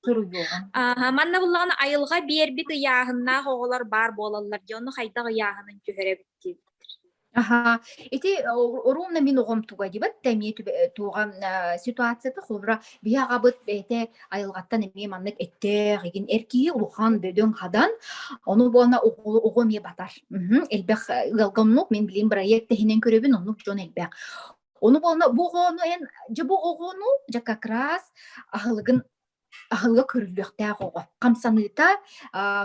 суруйуоҕум аха манна буллаҕына айылҕа биэрбит ыйааһыннаах оҕолор баар буолаллар дии онно хайдах ыйааһынын түһэрэбит аха ити оруомна мин оҕом туга дибат да эмиэ туоҕа ситуацията холбура биһи аҕабыт бэйэтэ айылҕаттан эмиэ маннык эттээх игин эр киһи улахан бөдөҥ хадан ону буолна оҕо эмиэ батар элбэх ыалга оннук мин билим бырайыак тэһинэн көрөбүн оннук дьон элбэх Ону буолна бу оҕону эн дьэ бу оҕону дьэ как раз аһылыгын аһылыга көрүллүөхтээх оҕо хамсаныыта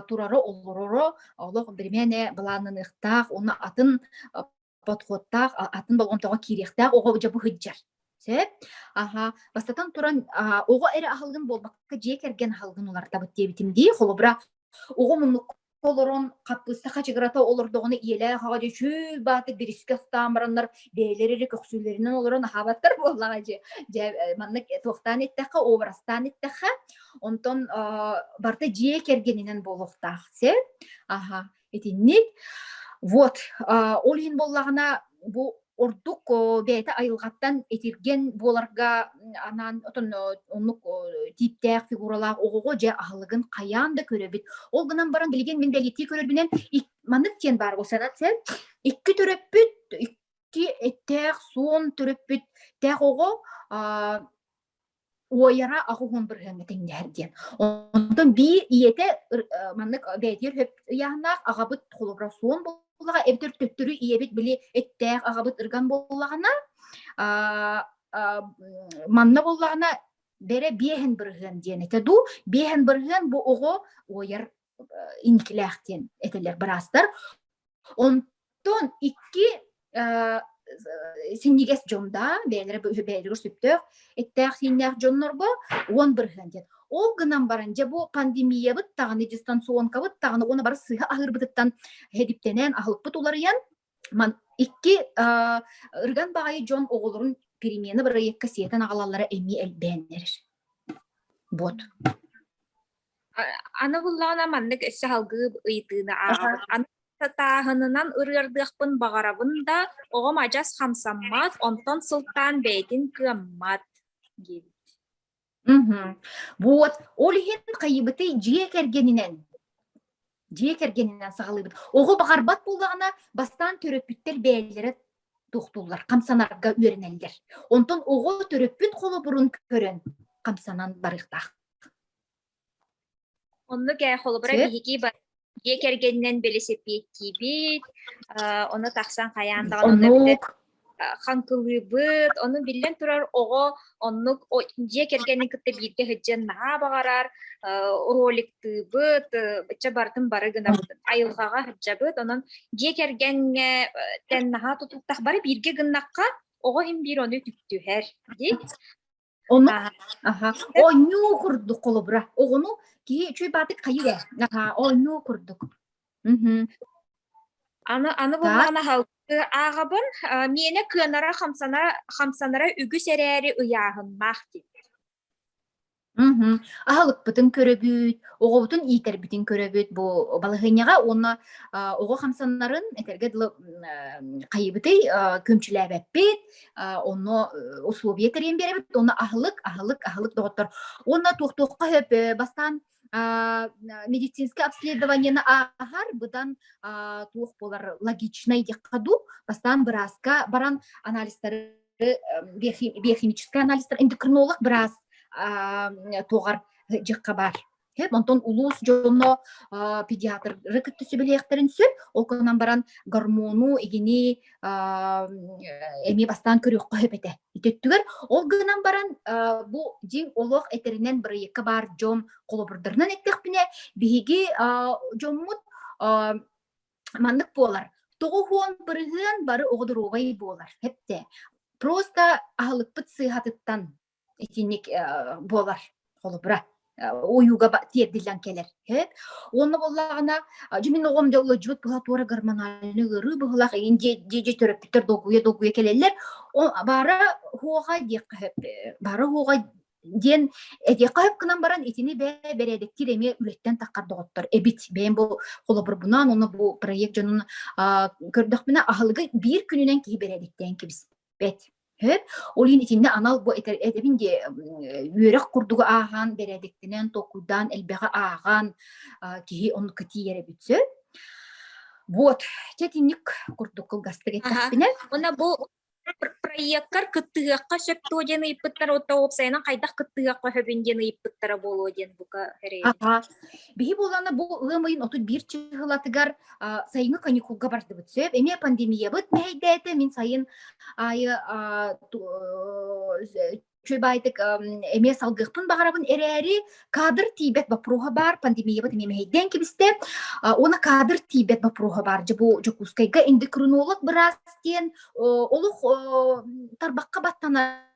турара олороро олох бэримээнэ былааныныахтаах оны атын подходтаах атын болҕомтоҕо киириэхтээх оҕо дьабы сыһдьар сөп аха бастатан туран оҕо эрэ аһылгын буолбакка дьиэ кэргэн аһылгын улартабыт диэбитим дии холобура оҕо муннук олорон хаппыыста хачыгырата олордоҕуна ийэлээх аҕа дьэ чөл баатыр бирискэ устаан бараннар бэйэлэрэ эрэ көхсүүлэринэн олорон аһаабаттар буоллаҕа дьэ дьэ э, маннык э, туохтаан эттэххэ уобарастаан эттэххэ онтон барыта дьиэ кэргэнинэн буолуохтаах сөп аха итинник. Вот, ол иһин боллаҕына бу ордук бэйэтэ айылҕаттан итирген буоларга анаан отон оннук тииптээх фигуралаах оҕоҕо дьэ аһылыгын хайаан да көрөбүт. Ол гынан баран билигин мин бэлиэтии көрөрбүнэн маннык диэн баар бу санат сэл икки төрөппүт икки эттээх суон төрөппүт тээх оҕо уойара ахуһун бырыһыҥҥа тиҥнэһэр диэн. Онтон биир ийэтэ маннык бэйэтигэр хөп ыйааннаах аҕабыт холобрасуон буллаҕа эбэтэр төттөрү ийэбит били эттээх аҕабыт ырган буллаҕына манна буллаҕына бэрэ биэһэн бырыһыан диэн этэ дуу биэһэн бырыһыан бу оҕо уойар инкилээх диэн этэлэр быраастар. Онтон икки синньигэс дьонда, бэйэлэрэ бэйэлэригэр сүптөөх, эттээх-сииннээх дьоннорго уон бырыһыан диэн. Ол гынан баран, дьэ бу пандемиябыт даҕаны, дистанционкабыт даҕаны уона бары сыһа аһыырбытыттан хэдиптэнэн, аһылыкпыт уларыйан, Икки ырган баҕайы дьон оҕолорун перемена бырайыакка сиэтэн аҕалаллара эмиэ элбээн эрэр. Буот. Аны буллаҕына маннык өссө салгыы ыйытыыны ааҕабын. Аны сатааһынынан ырыардыахпын баҕарабын да, оҕом адьас хамсаммат, онтон сылтаан бэйэтин кыаммат диэбит. Мгм. Вот, ол иһин хайыбытый дьиэ кэргэнинэн дьиэ кэргэнинэн саҕалыыбыт. Оҕо баҕарбат буоллаҕына, бастаан төрөппүттэр бэйэлэрэ туохтууллар, хамсанарга үөрэнэллэр. Онтон оҕо төрөппүт холобурун көрөн хамсанан барыахтаах. Оннук э, холобура биһики бар дьиэ кэргэнинэн бэлисипиэттиибит, ону тахсан хайаан даҕаны хаҥкылыыбыт, ону биллэн турар оҕо оннук дьиэ кэргэни кытта бииргэ сылдьан наһаа баҕарар роликтыыбыт, ычча барытын бары гынабытын, айылҕаҕа сылдьабыт, онон дьиэ кэргэҥҥэтэн наһаа тутуктаах бары бииргэ гыннахха оҕо иһин биир ону үтүктүһэр, дии. Ону аха оонньуу курдук холобура. Оҕону кии үчүй баатык хайыра. Аха оонньуу курдук. Аны аны булан аһалты аагабын мене кыанара хамсана хамсанара үгүс эрээри ыйааһыннаах дии. Уһу. Аһалыкпытын көрөбүт, оҕобутун иитэрбитин көрөбүт бу балаһыанньаҕа уонна оҕо хамсаннарын этэргэ дылы хайыбытый күмчүлээбэппит, онно условия тэрийэн биэрэбит онно аһылык аһылык аһылык доҕоттор уонна туохтуохха хөп бастаан медицинское обследованиены ааһар быдан туох буолар логичнай диэххэ дуу бастаан бырааска баран анализтары биохимический анализтар эндокринолог быраас туоҕар дьахха баар Хеп онтон улуус дьоно педиатры кытта сүбэлиэхтэрин сөп. Ол гынан баран гормону игини эмиэ бастаан көрүөххэ сөп этэ. Ититтүгэр ол гынан баран бу дьиҥ олох этэринэн бырайыакка баар дьон холобурдарынан эттэхпинэ биһиги дьоммут маннык буолар тоҕуһуон бырыһыан бары оҕо доруобай буолар хепте просто аһылыкпыт сыыһатыттан итинник буолар холобура ойууга тиэрдиллэн кэлэр уонна буоллаҕына дьэ мин оҕом да улалдьыбыт быһа туора гормональный ыарыы быһылах иин дьиэ төрөппүттэр долгуйа долгуйа кэлэллэр баара хуоҕа диэххэ баара хуоҕа диэн эдиэххэ хөп гынан баран итини бээ бэрээдэктиир эмиэ үлэттэн таххар доҕоттор эбит бэйэм бу холобурбунаан уонна бу проект дьонун көрдөхпүнэ аһылыгы биир күнүнэн киһи бэрээдэктээн кэбиспэт Ол иһин итиннэ анал бу этэбин дии үөрэх курдугу ааһан, бэрээдэктэнэн, толкуйдаан, элбэҕи ааҕан киһи ону кытииэрэ эбит сөп. Вот, чэ итинник курдук кылгастык эттэхпинэ. Уна бу проекттар кыттыһыахха сөп туо диэн ыйыппыттар, отто уопсайынан хайдах кыттыһыахха сөбүн диэн ыйыппыттара буолуо диэн бука эрэйэ. Аха. Биһи буолана бу ыам ыйын отут биир чыһылатыгар сайыҥҥы каникулга бардыбыт. Сөп, эмиэ пандемиябыт мэһэйдээтэ, мин сайын айы чөйбаайтык эмиэ салгыахпын баҕарабын эрээри кадр тиийбэт боппуруоһа баар пандемиябыт эмиэ мэһэйдээн кэбистэ уонна кадр тиийбэт боппуруоһа баар дьэ бу Дьокуускайга эндокринолог быраас диэн олох тарбахха баттанар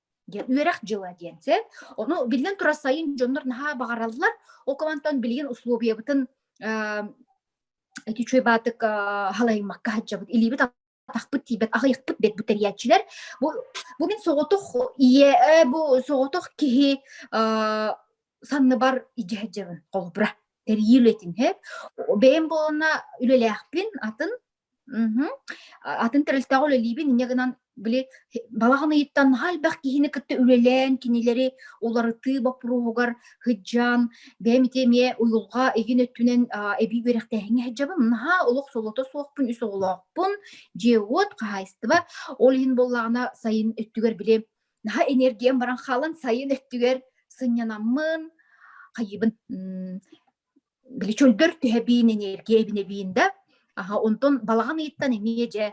диэн үөрэх дьыла диэн сэ ону биллэн турар сайын дьоннор наһаа баҕараллар ол кабантан билигин условиябытын эти үчүгэй баатык халайымакка хадьабыт илиибит атахпыт тиийбэт аҕыйахпыт бэт бүтэрияччилэр бу бу мин соҕотох ийэ бу соҕотох киһи санныбар идьэһэдьэбин холобура тэрийи үлэтин хэп бэйэм буолана үлэлээхпин атын Мгм. Атын тэрилтэҕэ үлэлиибин инньэ гынан били балаҕан ыйыттан наһаа элбэх киһини кытта үлэлээн кинилэри уларытыы боппуруоһугар сыдьаан бэйэм ити эмиэ уйулҕа иһин өттүнэн аа, эбии үөрэхтээһиҥҥэ сылдьабын. Наһаа олох солото суохпун, үс оҕолоохпун, дьиэ-уот, хаһаайыстыба. Ол иһин буоллаҕына сайын өттүгэр били наһаа энергиям баран хаалан сайын өттүгэр сынньанаммын хайыыбын. М били чөлдөр түһэ биин энергия эбине биин да аха онтон балаҕан ыйыттан эмиэ дьэ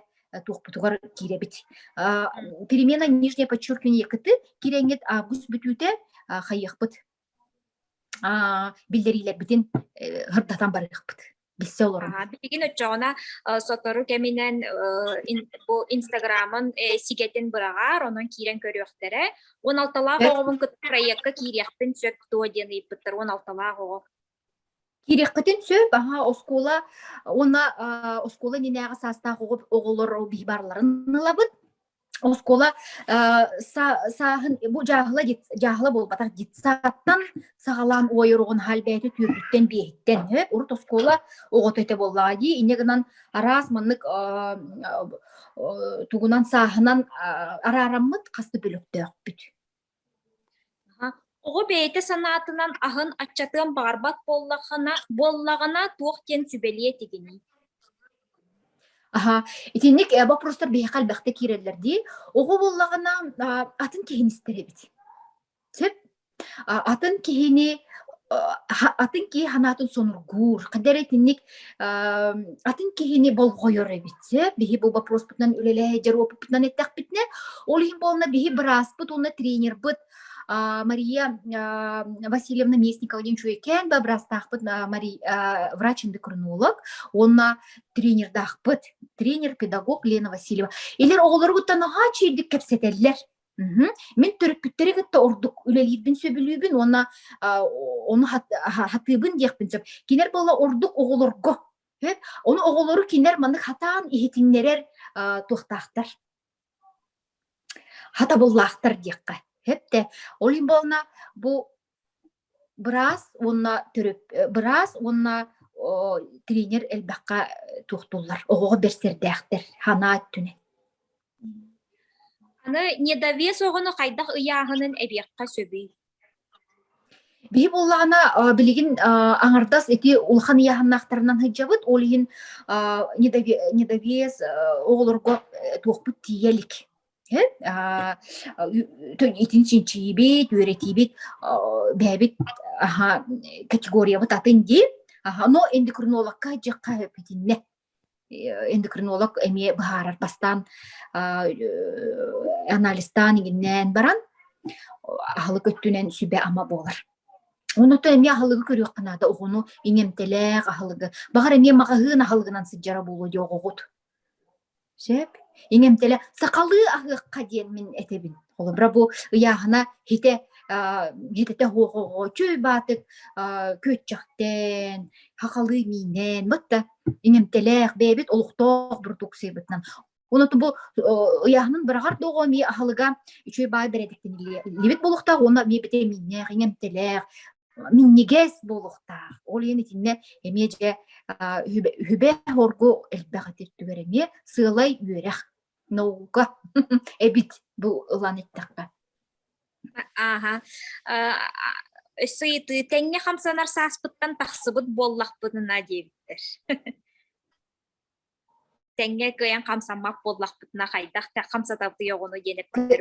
туохпутугар киирэбит перемена нижнее подчеркивание кыты киренгит август бүтүүтэ хайыахпыт биллэриилэрбитин хырдатан барыахпыт билсе олорон билигин өччөҕүнэ сотору кэминэн бу инстаграмын сигэтин быраҕаар онон киирэн көрүөхтэрэ Уон алталаах оҕобун кытта проекка киириэхпин сөп дуо диэн ыйыппыттар уон алталаах оҕо. Киириэххитин сөп, аха, оскуола уонна оскуола иннинээҕи саастаах оҕолор баарларын ылабыт. Оскуола сааһын бу дьааһыла дьааһыла буолбатах детсадтан саҕалаан уойоругун хал бэйэтэ түүрбүттэн биэһиттэн һэ урут оскуола оҕото этэ буоллаҕа дии инньэ гынан араас маннык тугунан сааһынан араараммыт хас да бөлөхтөөхпүт оҕо бэйэтэ санаатынан аһын аччатыан баарбат буоллаҕына буоллаҕына туох диэн сүбэлиэ тигиний Аха, итинник боппуруостар биһиэхэ элбэхтэ киирэллэр дии. Оҕо буоллаҕына атын киһини истэр эбит. Сөп. А атын киһини атын киһи санаатын сонургуур, ханна эрэ итинник, ам, атын киһини болҕойор эбит. Сөп, биһи бу боппуруспутунан үлэлэһиддьэр опыппытынан эттэхпитинэ, ол иһин буолла биһи бырааспыт уонна тренербыт, а, Мария, а, Васильевна Местникова диэн үчүгэй кээн ба быраастаахпыт, а, Мари а, врач-эндокринолог уонна тренердаахпыт, тренер-педагог Лена Васильева. Илэр оҕолоругуттан наһаа чэйдик кэпсэтэллэр. Мгм. Мин төрөппүттэри кытта ордук үлэлиирбин сөбүлүүбүн уонна, а, ону хат хатыыбын диэхпин сөп. Кинилэр буолла ордук оҕолорго, эт. Ону оҕолору кинилэр маннык хатаан иһитиннэрэр, а, туохтаахтар. Хатабыллаахтар диэххэ, эт дэ. Ол иһин буолла бу Быраас уонна төрөп быраас уонна о тренер элбэххэ туохтуллар. Оҕоҕо берсердээхтэр санаа өттүнэн. Аны недовес оҕону хайдах ыйааһынын эбиэххэ сөбүй? Биһи буллаҕына э, билигин э, аҥардас ити улахан ыйааһыннаахтарынан сылдьабыт. Ол иһин э, недове недовес оҕолорго туохпут тиийэ илик. итин чинчийибит, үөрэтиибит, бэйэбит аха категориябыт атын диир, аха но эндокринологка дьахха эпитинне эндокринолог эмиэ быһаарар бастаан анализтаан игиннээн баран аһылык өттүнэн сүбэ ама буолар оноту эмиэ аһылыгы көрүөххэ наада оҕону иҥэмтэлээх аһылыгы баҕар эмиэ маҕаһыын аһылыгынан сыдьара буолуо диоҕоҕут Сөп. Иҥ эмтэлэ сахалыы аһыахха диэн мин этэбин. Холобура бу ыйааһына һитэ аа һитэтэ оһоҕоҕо үчүгэй баатык аа күөччэхтээн, сахалыы миинэн вот да иҥ эмтэлээх бэйэбит олохтоох бородууксуйабытынан. Оноту бу оо ыйааһынын быраҕар доҕо эмиэ аһылыга үчүгэй баай бэрээдэктэниллибит буолуохтаах уонна эмиэ битэмииннээх, иҥ эмтэлээх минньигэс буолуохтаах. Ол иһин итиннэ эмиэ дьэ үһүбэ-үһүбэ-оһоргу элбэх эти түгэр эмиэ сыалай үөрэх наука эбит бу ылан эттэххэ. Ааха. Өссө ыйытыы тэҥҥэ хамсанар сааспыттан тахсыбыт буоллахпытына диэбиттэр. Тэҥҥэ кыайан хамсаммат буоллахпытына хайдах хамсатабытый оҕону диэн эппиттэр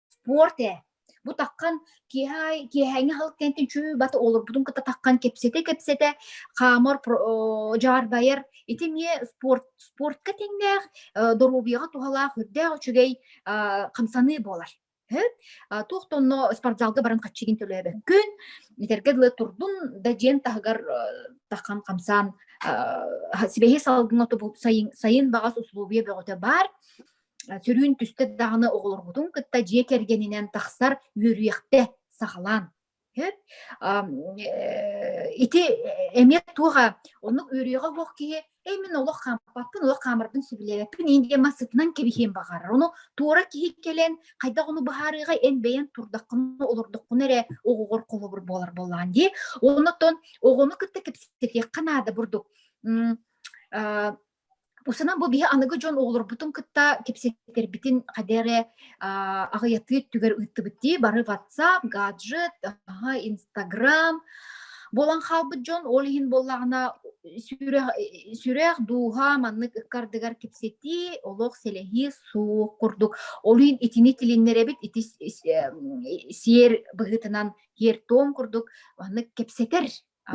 спорт ээ. Бу таххан киэһэ киэһээҥҥи хал кэнтин чүү бата олорбутун ката таххан кэпсэтэ-кэпсэтэ хаамар дьаарбайар ити эмиэ спорт спортка тэҥнээх доруобуйаҕа туһалаах үрдээх үчүгэй хамсаныы буолар. туох тонно спортзалга баран хаччыгын төлөөбөккүн итэргэ дылы турдун да дьиэн таһыгар тахан хамсаан сибэһи салгын оту сайын сайын баҕас условия бөҕөтө баар Түрүүн түстэ даҕаны оҕолоргутун кытта дьиэ кэргэнинэн тахсар үөрүйэхтэ сахалаан. Ити эмиэ туоха оннук үөрүйэҕэ буох киһи эй мин олох хаампаппын олох хаамарбын сөбүлээбэппин ин диэн мас сытынан кэбиһиэн баҕарар ону туора киһи кэлэн хайдах ону быһаарыыга эн бэйэн турдаххына олордоххуна эрэ оҕоҕор холобур буолар буоллаан дии оннуттан оҕону кытта кэпсэтиэххэ наада бурдук Усунан бу биһи аныгы дьон оҕолорбутун кытта кэпсэтэрбитин хаде эрэ аҕыйатыы өттүгэр ыыттыбыт дии бары WhatsApp, гаджет, Instagram буолан хаалбыт дьон ол иһин буоллаҕына сүрэх сүрэх дууһа маннык ыккардыгар кэпсэтии олох сэлэһии суох курдук ол иһин итини тилиннэрэбит ити сиэр быһыытынан киэр тоом курдук маннык кэпсэтэр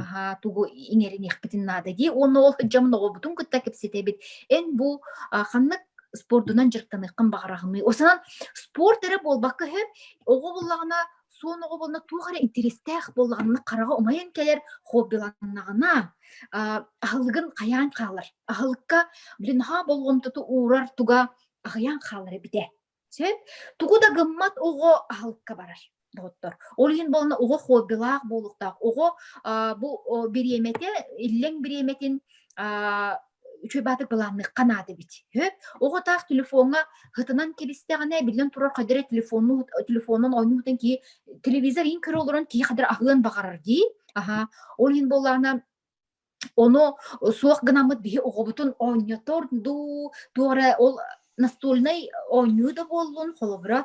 аһаа тугу иҥэриниэхпитин наада дии уонна ол дьомун оҕобутун кытта кэпсэтэбит эн бу ханнык спордунан дьарыктаныаххын баҕараҕыный ол санаан спорт эрэ буолбакка өһө оҕо буоллаҕына суон оҕо буолла туох эрэ интэристээх буоллаҕына хараҕа умайан кэлэр хоббиланнаҕына аһылыгын хайаан хаалар аһылыкка блин наһаа болҕомтоту уурар туга аһыйан хаалар эбитэ Чэ, тугу да гыммат оҕо аһылыкка барар доҕоттор. Ол иһин буолана оҕо хоббилаах буолуохтаах. Оҕо а, бу о, бириэмэтэ, иллэҥ бириэмэтин а, үчүгэйбаатык былаанныахха наада эбит. Үһү. Оҕо таах телефоҥҥа хытынан киристэҕинэ, биллэн турар, хайдары телефонну телефонунан оонньуутун кии телевизор иин көрө олорон киһи хайдары аһыан баҕарар дии. Аһаа. Ол иһин буоллаҕына Ону суох гынаммыт биһи оҕобутун оонньотор дуу, туох эрэ ол настольнай оонньуу да буоллун, холобура,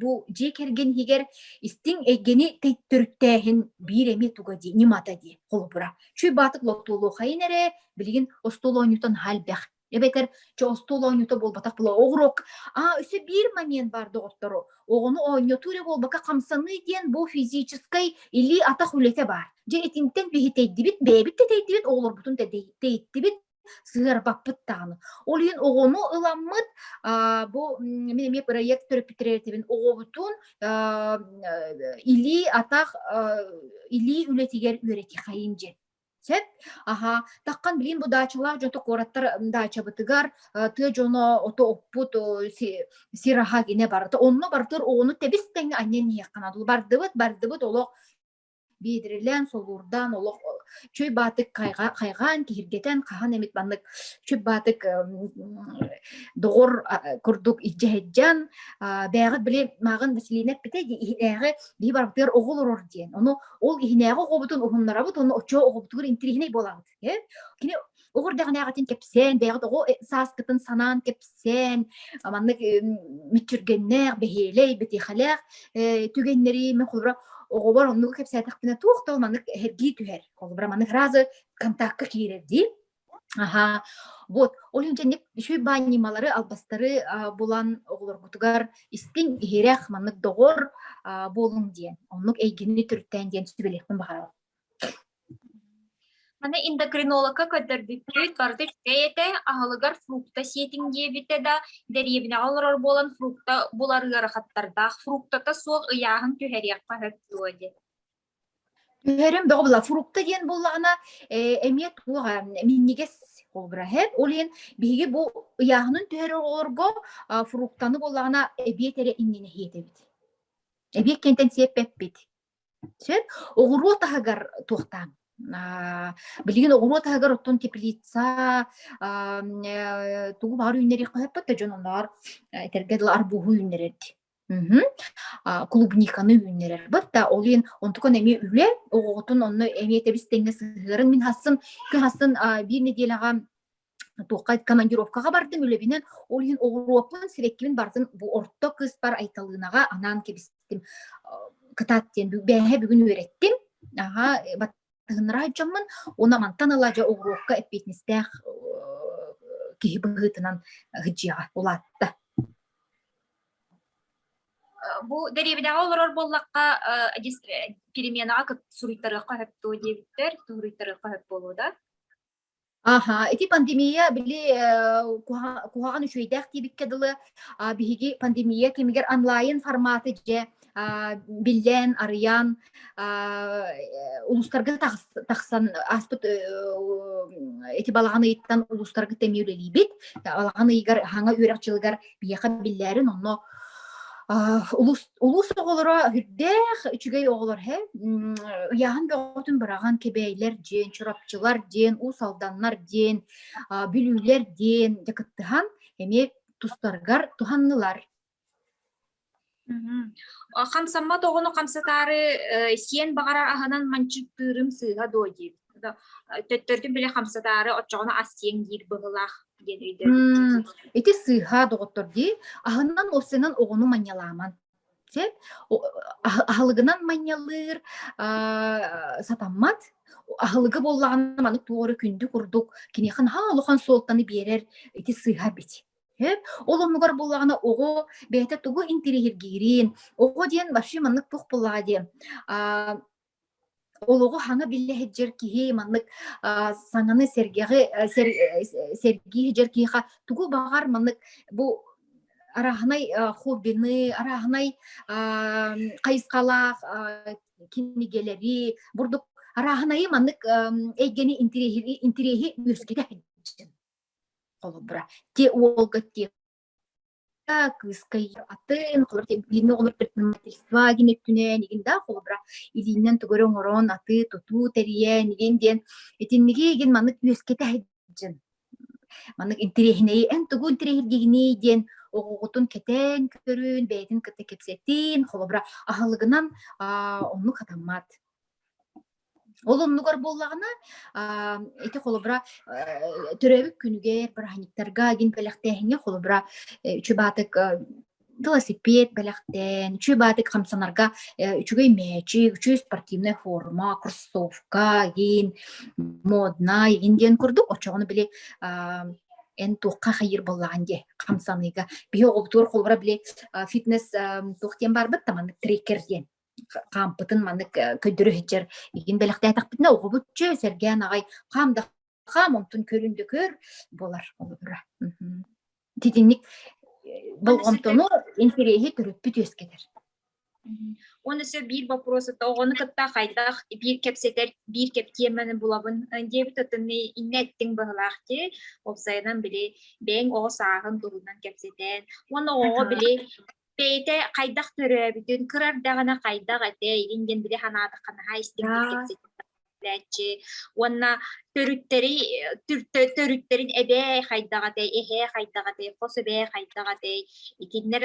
бу дьиэ кэргэн иһигэр истиҥ эйгэни төрүттээһин биир эмиэ туга дии, ньымата дии, холобура. Чуй баатык лоптуолуохайын эрэ, билигин остуол оонньуутан аһа элбэх. эбэтэр че остуол оонньуута буолбатах була оҕуруок а өсө биир момент бар доҕоттору оҕону оонньотуу эрэ буолбака хамсаныы диэн бу физическэй или атах үлэтэ бар дьэ итинтэн биһитэйдибит бэйэбит тэтэйдибит оҕолорбутун тэйиттибит сыарбаппыт даҕаны ол иһин оҕону ыламмыт бу мин эмиэ проект төрөппүттэрбитин оҕобутун илии атах илии үлэтигэр үөрэтиэхэйин дьэ Сөп. Аһа, таххан билигин бу даачалаах дьонто куораттар даачабытыгар э, тыа дьоно ото оппут о, си, сир аһа гинэ барыта онно барытыр оҕону тэбис тэҥҥэ анньан иһиэххэ дуу бардыбыт бардыбыт олох биидирилээн солуурдаан олох чөй баатык хайга, хайгаан киһиргэтэн хаһан эмит маннык чөй баатык доҕор курдук илдьэһэддьэн бээҕит били мааҕын Василина эппитэ дии иһинээҕи биһи барбытыгар оҕо олорор диэн ону Ол иһинээҕи оҕобутун уһуннарабыт уонна оччо оҕобутугар интириэһинэй буолабыт. Кини оҕор дэҕинээҕитин кэпсээн, бэйэҕит оҕо э, сааскытын санаан кэпсээн, маннык мүччүргэннээх, бэһиэлэй, бэтиэхэлээх э, түгэннэри мен холобура оҕобор оннугу кэпсээтэхпинэ туох да маннык эһэргии түһэр. Холобура маннык фраза контактка киирэр дии. Аһа, вот, ол иһин дьэнник үчүгэй баанньымалары, албастары булан оҕолоргутугар истиҥ, иһирэх, маннык доҕор буолуҥ диэн, оннук эйгини түртээн диэн сүбэлиэхпин баҕарабын. Аны эндокринологка көрдөрбүттүт, барды үчүгэй этэ, аһылыгар фрукта сиэтиҥ диэбитэ да, дэриэбинэҕэ олорор буолан фрукта булар ыарахаттардаах, фруктата суох ыйааһын түһэриэххэ сөп дуо диэн. Түһэрим бөҕө була фрукта диэн буоллаҕына, э, эмиэ туох э, минньигэс обраһет, ол иһин биһиги бу ыйааһынын түһэрэр оҕолорго а, фруктаны буоллаҕына эбиэт эрэ иннинэ иһиэт эбит. Эбиэт кэнтэн сиэппэппит. Сөп? Оҕуруот аһыгар туохтааҥ? А, билигин оҕуруот аһыгар оттон теплица, а, э, тугу баҕар үүннэриэх хоһуппут да дьон оннооҕор этэргэ дылы арбуһу үүннэрэр. Мгм. А, клубниканы үүннэрэрбит да, ол иһин онтукун эмиэ үлэ, оҕоҕутун онно эмиэ тэбис-тэҥҥэ сыһыарыҥ. Мин хасын күн хасын, а, биир нэдиэлэҕэ туохха командировкаҕа бардым үлэбинэн. Ол иһин оҕуруоппун, сибэккибин барытын бу орто кыыспар Айталыынаҕа анаан кэбистим. Кытаат диэн бу бээһэ бүгүн үөрэттим. Аһа, э, бат Тыгынраай дьоҥҥун уна мантан ыла дьэ угуруокка эппиэтинэстээх киһи быһыытынан ыһдьыаҕа улаатта. Бу дэриэбинэҕэ олорор буоллахха, переменаҕа суруйтарыахха сөп дуо диэбиттэр, суруйтарыахха сөп буолуо да? Аха, ити пандемия били э, куһа- куһаҕан үчүгэйдээх диэбиккэ дылы, а, биһиги пандемия кэмигэр онлайн форматы дьэ а, биллэн, арыйан, а, э, улуустарга тахс- тахсан ааспыт э, эти балаҕан ыйыттан улуустарга эмиэ үлэлиибит. Балаҕан ыйыгар, аһаҥа үөрэх дьылыгар биэха биллээрин онно улуус улуус оҕолоро үрдээх үчүгэй оҕолор һэ ыйааһын бөҕөтүн быраҕан кэбэйлэр диэн чурапчылар диэн уус алданнар диэн бүлүүлэр диэн дьакыттыһан эмиэ тустарыгар туһаннылар Хамсаммат оҕону хамсатаары сиэн баҕарар аһынан манчыктыырым сыыһа дуо диир. Төттөрдүн биле хамсатаары оччоҕуна ас сиэн диир быһылаах диэн өйдөбүл. Ити сыыһа доҕоттор дии, аһынан осенан оҕону манньалааман. Сеп аһылыгынан манньалыыр сатаммат аһылыгы боллаҕына маннык туора күндү курдук киниэхэ наһаа улахан суолтаны биэрэр ити сыыһа бит. Хөп, ол оннугар буллаҕына оҕо бэйэтэ тугу интириһиргиирин, оҕо диэн вообще маннык туох буоллаҕа диэн, аа, олоҕу хаҥа биллэ сылдьар киһи маннык, аа, саҥаны сэргэҕи, э, сэр э, сэргии сылдьар киһиэхэ тугу баҕар маннык бу арааһынай, а, хоббины, арааһынай, аа, хайысхалаах, аа, кинигэлэри, бурдук арааһынайы маннык, эм, эйгэни интириһи интириһи үөскэтэ сылдьын. холобура те уолга те кыыска атын билинэ оҕолор предпринимательство гин өттүнэн игин да холобура илииннэн тугары оҥорон аты тутуу тэрийэн игин диэн итинниги игин маннык үөскэтэһэджин маннык интириэһинэйи эн тугу интириэһиргигиний диэн оҕоҕутун кэтээн көрүн бэйэтин кытта кэпсэтин холобура аһылыгынан оннук хатаммат Ол оннугар буоллаҕына, аа, ити холобура, э, төрөөбүт күнүгэр бырааһынньыктарга, гин бэлэхтээһиҥҥэ холобура, э, үчүгү велосипед бэлэхтээн, үчүгү хамсанарга э, үчүгэй мээчик, үчүгэй спортивная форма, кроссовка, гин моднай, гин диэн курдук очоҕону били эн туохха хайыр боллаҕын дии хамсаныыга. Биһи оҕобутугар холобура били фитнес туох диэн барбыт та маннык трекер диэн. хаампытын маннык көйдөрө сытчар игин бэлэхтээтэхпитинэ оҕобут чө сэргээн аҕай хаам да хаам онтун көрүн да көр болар олорура титинник болҕомтону интириэһи төрүппүт үөскэтэр Оны сөп биир вопрос это оҕону кытта хайдах биир кэпсэтэр биир кептиэмэни булабын диэбит оттонны инне эттиң быһылаах ти опсайынан били бэң оҕо сааһын туһунан кэпсэтэн уонна оҕоҕо били бэйэтэ хайдах төрөөбүтүн, кырар даҕаны хайдах этэй, иһин диэн били санаатахха наһаа истиҥник уонна төрүттэри төрүттэрин эбээ хайдах этэй, эһээ хайдах этэй, хос эбээ хайдах этэй, итиннэр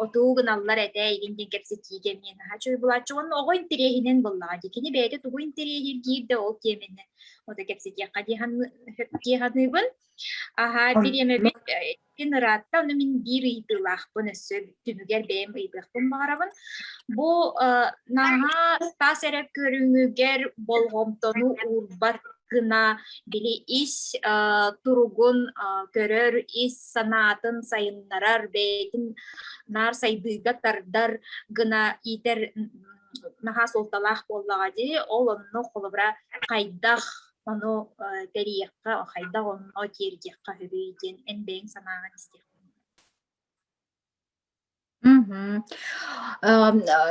отуу гыналлар этэ, иһин диэн кэпсэтиигэ эмиэ наһаа чуй булааччы. Уонна оҕо интэриэһинэн буллаҕа дии. Кини бэйэтэ тугу интэриэһир киирдэ ол киэмэннэн. Ото кэпсэтиэххэ дии саныыбын. Аһаа, бириэмэбит Мин ыраатта, ону мин биир ыйытыылаахпын өссө түмүгэр бэйэм ыйытыахпын баҕарабын. Бу наһаа тас эрэ көрүҥүгэр болҕомтону уурбат гына били ис туругун көрөр, ис санаатын сайыннарар, бэйэтин наар сайдыыга тардар гына иитэр наһаа суолталаах буоллаҕа дии. Ол онно холобура хайдах Ону тэрийиэххэ, хайдах онно тиэрдиэххэ үһүй диэн эн бэйэҥ санааҕын истиэххин. Мгм.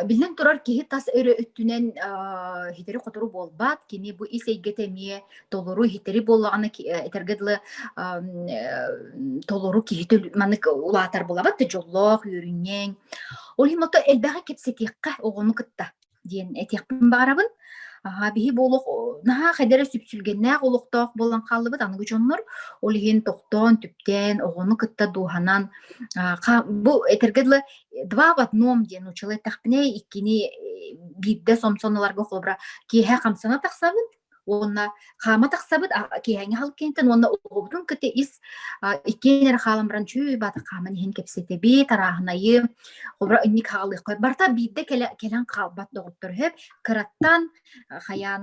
Биллэн турар, киһи тас өрө өттүнэн, аа, иһитэри-хотору буолбат. Кини бу ис эйгэтэ эмиэ толору иһитэри буоллаҕына ки э, этэргэ дылы, ам, э, толору киһитэ ул маннык улаатар булабат да дьоллоох, үөрүнньэҥ. Ол иһин ото элбэҕи кэпсэтиэххэ оҕону кытта. диэн этиэхпин баҕарабын. Аhaa, биһи бу олох наһаа хедэрэ сүпсүлгэннээх олохтоох буолан хааллыбыт аныгы дьоннор. Ол иһин тохтоон, түптээн, оҕону кытта дууһанан бу этэргэ дылы два в одном диэн нууччалыы эттэхпинэ, иккини биирдэ сомсоноларга холобура киэһэ хамсана тахсабын, уонна хаама тахсабыт киэһэҥи хал киэнтен уонна оҕобутун кыты ис иккиэн эрэ хаалан баран чүү баата хааман иһин кэпсэтэби тарааһынайы обра инник хаалыаххой барта биирдэ кэлэн хаалбат доҕоттор хөп кыраттан хаян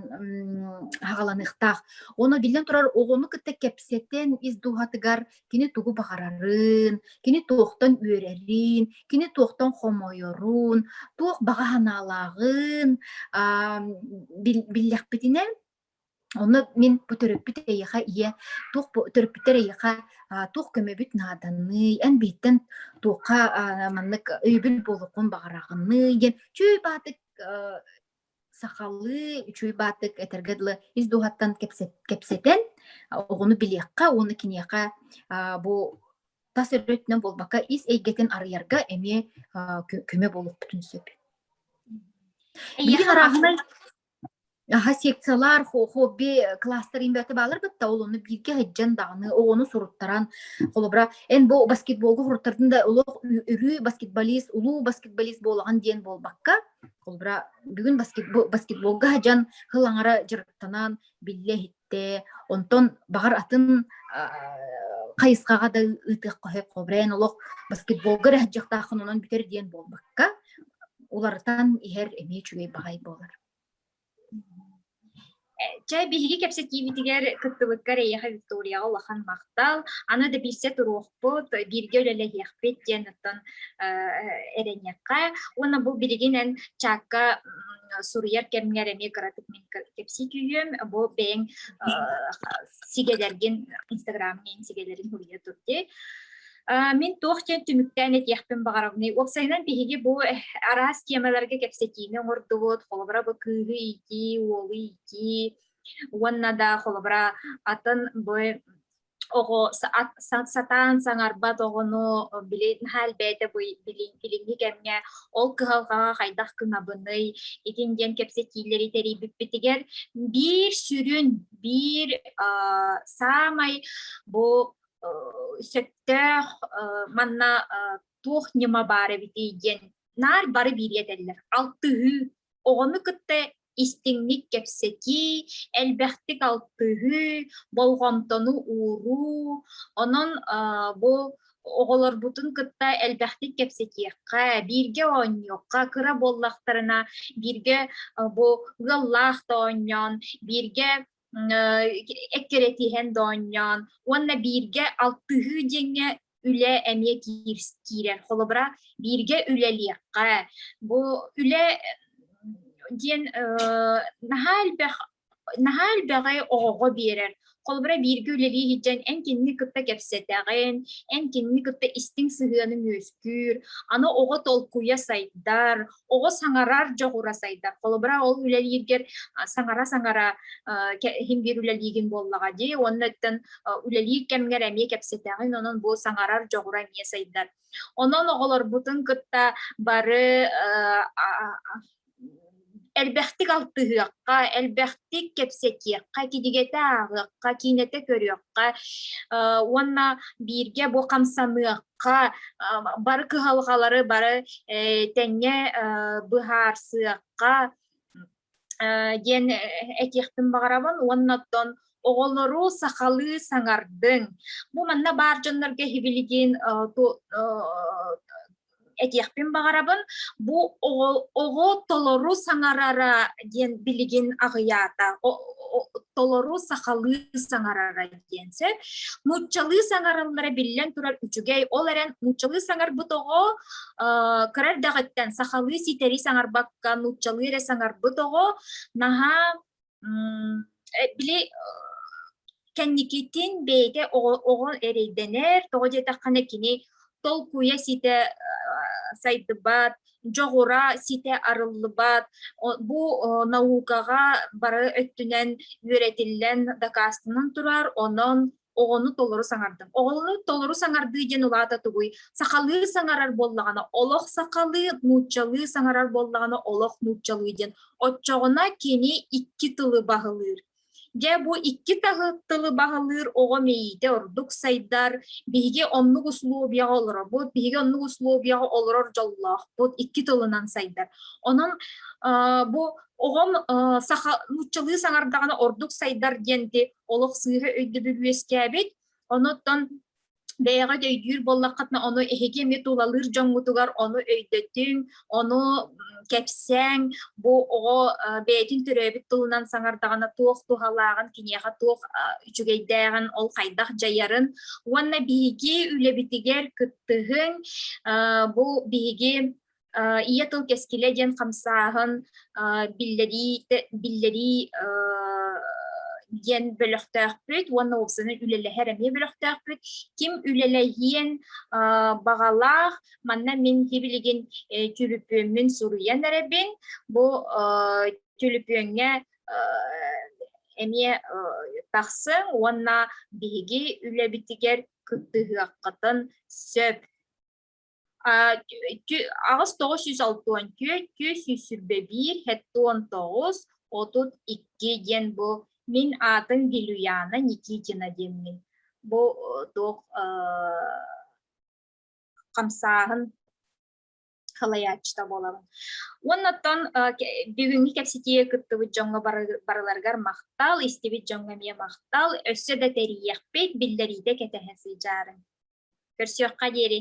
хагаланыхтаах оно биллэн турар оҕону кытта кэпсэтэн ис дууһатыгар кини тугу баҕарарын, кини туохтан үөрэрин, кини туохтан хомойорун, туох баҕа санаалааҕын биллэхпитинэ, Онно мин бу төрөппүт эйиэхэ ийэ туох бу төрөппүттэр эйиэхэ туох көмөбүт нааданый, эн биһиттэн туохха маннык өйөбүл буолуоххун баҕараҕыный диэн чүй баатык сахалыы үчүгэй бааттык этэргэ дылы ис дууһаттан кэпсэтэн оҕону билиэххэ уонна киниэхэ бу тас өрүтүнэн буолбакка ис эйгэтин арыйарга эмиэ көмө буолуохпутун сөп. Билигин араһынай аха секциялар хобби класстар имбэте баалар бытта ол ону биирге хыджан дааны оҕону суруттаран холобура эн бу баскетболга хуртардын да олох үрүү баскетболист улуу баскетболист буолаган диэн буолбакка Холбура бүгүн баскетбол, баскетболга дьан хыл аҥара дьырыктанан биллэ иһиттэ. Онтон баҕар атын хайысхаҕа да ыытыах қохек хобрен олох баскетболга рәһджиқтаах онон бүтер диэн буолбакка, уларытан иһэр эмиэ үчүгэй баҕай болар. Чэ, биһиги кэпсэтиибитигэр кыттыбыкка эрэйэхэ Викторияҕа улахан махтал. Аны да билсэ туруохпут, бииргэ үлэлэһиэхпит диэн оттон эрэниэххэ. Уонна бу билигинэн чаакка суруйар кэмҥэр эмиэ кыратык мин кэпсии түһүөм. Бу бэйэҥ сигэлэргин, инстаграмҥа сигэлэрин суруйа турдий. Мин туох диэн түмүктээн этиэхпин баҕарабыный? Уопсайынан биһиги бу араас тиэмэлэргэ кэпсэтиини оҥордубут, холобура бу кыыһы иитии, уолу иитии, уонна да холобура атын бу оҕо сатаан саҥарбат оҕону били наһаа элбээтэ бу билиҥҥи кэмҥэ ол кыһалҕаҕа хайдах гынабыный итин диэн кэпсэтиилэри тэрийбиппитигэр биир сүрүн биир саамай бу сөптөөх манна туох ньыма баар эбитий диэн наар бары бириэтэллэр алтыһыы оҕону кытта истиҥник кэпсэтии элбэхтик алтыһыы болҕомтону ууруу онон бу оҕолорбутун кытта элбэхтик кэпсэтиэххэ бииргэ оонньуохха кыра буоллахтарына бииргэ бу ыаллаах да оонньоон бииргэ эккирэтиһэн доонньоон уонна бииргэ алтыһыы диэҥҥэ үлэ эмиэ киирэн холобура бииргэ үлэлиэххэ бу үлэ диэн наһаа элбэх наһаа элбэҕи оҕоҕо биэрэр холобура бииргэ үлэлии сылдьан эн кинини кытта кэпсэтэҕин эн кинини кытта истиҥ сыһыаныҥ үөскүүр аны оҕо толкуйа сайдар оҕо саҥарар дьоҕура сайдар. Холобура, ол үлэлииргэр саҥара-саҥара иһин биир үлэлиигин буоллаҕа дии, уонна өттөн үлэлиир кэмҥэр эмиэ кэпсэтэҕин, онон бу саҥарар дьоҕура эмиэ сайдар. Онон оҕолорбутун кытта бары элбэхтик алтыһыахха, элбэхтик кэпсэтиэххэ, кидигэтэ ааҕыахха, киинэтэ көрүөххэ уонна бииргэ бу хамсаныахха, бары кыһалҕалары бары тэҥҥэ быһаарсыахха диэн этиэхпин баҕарабын уонна оттон оҕолору сахалыы саҥардыҥ бу манна баар дьоннорго иһибилигин этиэхпин баҕарабын бу оҕо толору саҥарара диэн билигин аҕыйаата толору сахалыы саҥарара диэн сөп. Нууччалыы саҥарыллара биллэн турар үчүгэй. Ол эрэн нууччалыы саҥарбыт оҕо кыра эрдэҕиттэн сахалыы ситэри саҥарбакка нууччалыы эрэ саҥарбыт оҕо наһаа били кэнникитин бэйэтэ оҕо, оҕо эрэйдэнэр, тоҕо диэтэххэ кини толкуйа ситэ сайдыбат, дьоҕура ситэ арыллыбат бу наукаҕа бары өттүнэн үөрэтиллэн дакаастанан турар онон оҕону толору саҥардым оҕону толору саҥардыы диэн улаата тугуй сахалыы саҥарар буоллаҕына олох сахалыы нууччалыы саҥарар буоллаҕына олох нууччалыы диэн оччоҕуна кини икки тылы баһылыыр Дьэ, бу икки тылы, тылы баһылыыр оҕо мэйиитэ ордук сайдар. Биһиги оннук условияҕа олоробут, биһиги оннук условияҕа олорор дьоллоохпут, икки тылынан сайдар. Онон бу оҕом саха нууччалыы саҥардаҕына ордук сайдар диэнти олох сыыһа өйдөбүл үөскээбит. Онуттан бэйэҕэ да өйдүүр буоллаххытына ону эһиги эмиэ тулалыыр дьоҥҥутугар ону өйдөтүҥ, ону кэпсээҥ, бу оҕо бэйэтин төрөөбүт тылынан саҥардаҕына туох туһалааҕын, киниэхэ туох үчүгэйдээҕин, ол хайдах дьайарын уонна биһиги үлэбитигэр кыттыһыҥ, бу биһиги ийэ тыл кэскилэ диэн хамсааһын биллэрии биллэрии диэн бөлөхтөөхпүт уонна уопсаны үлэлэһэр эмиэ бөлөхтөөхпүт ким үлэлэһиэн баҕалаах манна мин тибилигин түлүпүөммүн суруйан эрэбин бу түлүпүөҥҥэ эмиэ тахсыҥ уонна биһиги үлэбитигэр кыттыһыаххытын сөп аҕыс тоҕус сүүс алтыон түөрт сүүс сүүс сүүрбэ биир хеттуон тоҕус отут икки диэн бу мин аатын Гилюяна Никитина диэммин бу туох хамсааһын халайааччыта буолабын уонна оттон бүгүҥҥү кэпсэтии кыттыбыт дьоҥҥо барыларыгар махтал истибит дьоҥҥо эмиэ махтал өссө да тэрийиэхпит биллэриитэ кэтэһэ сыдьаарыҥ Көрсүөххэ диэри.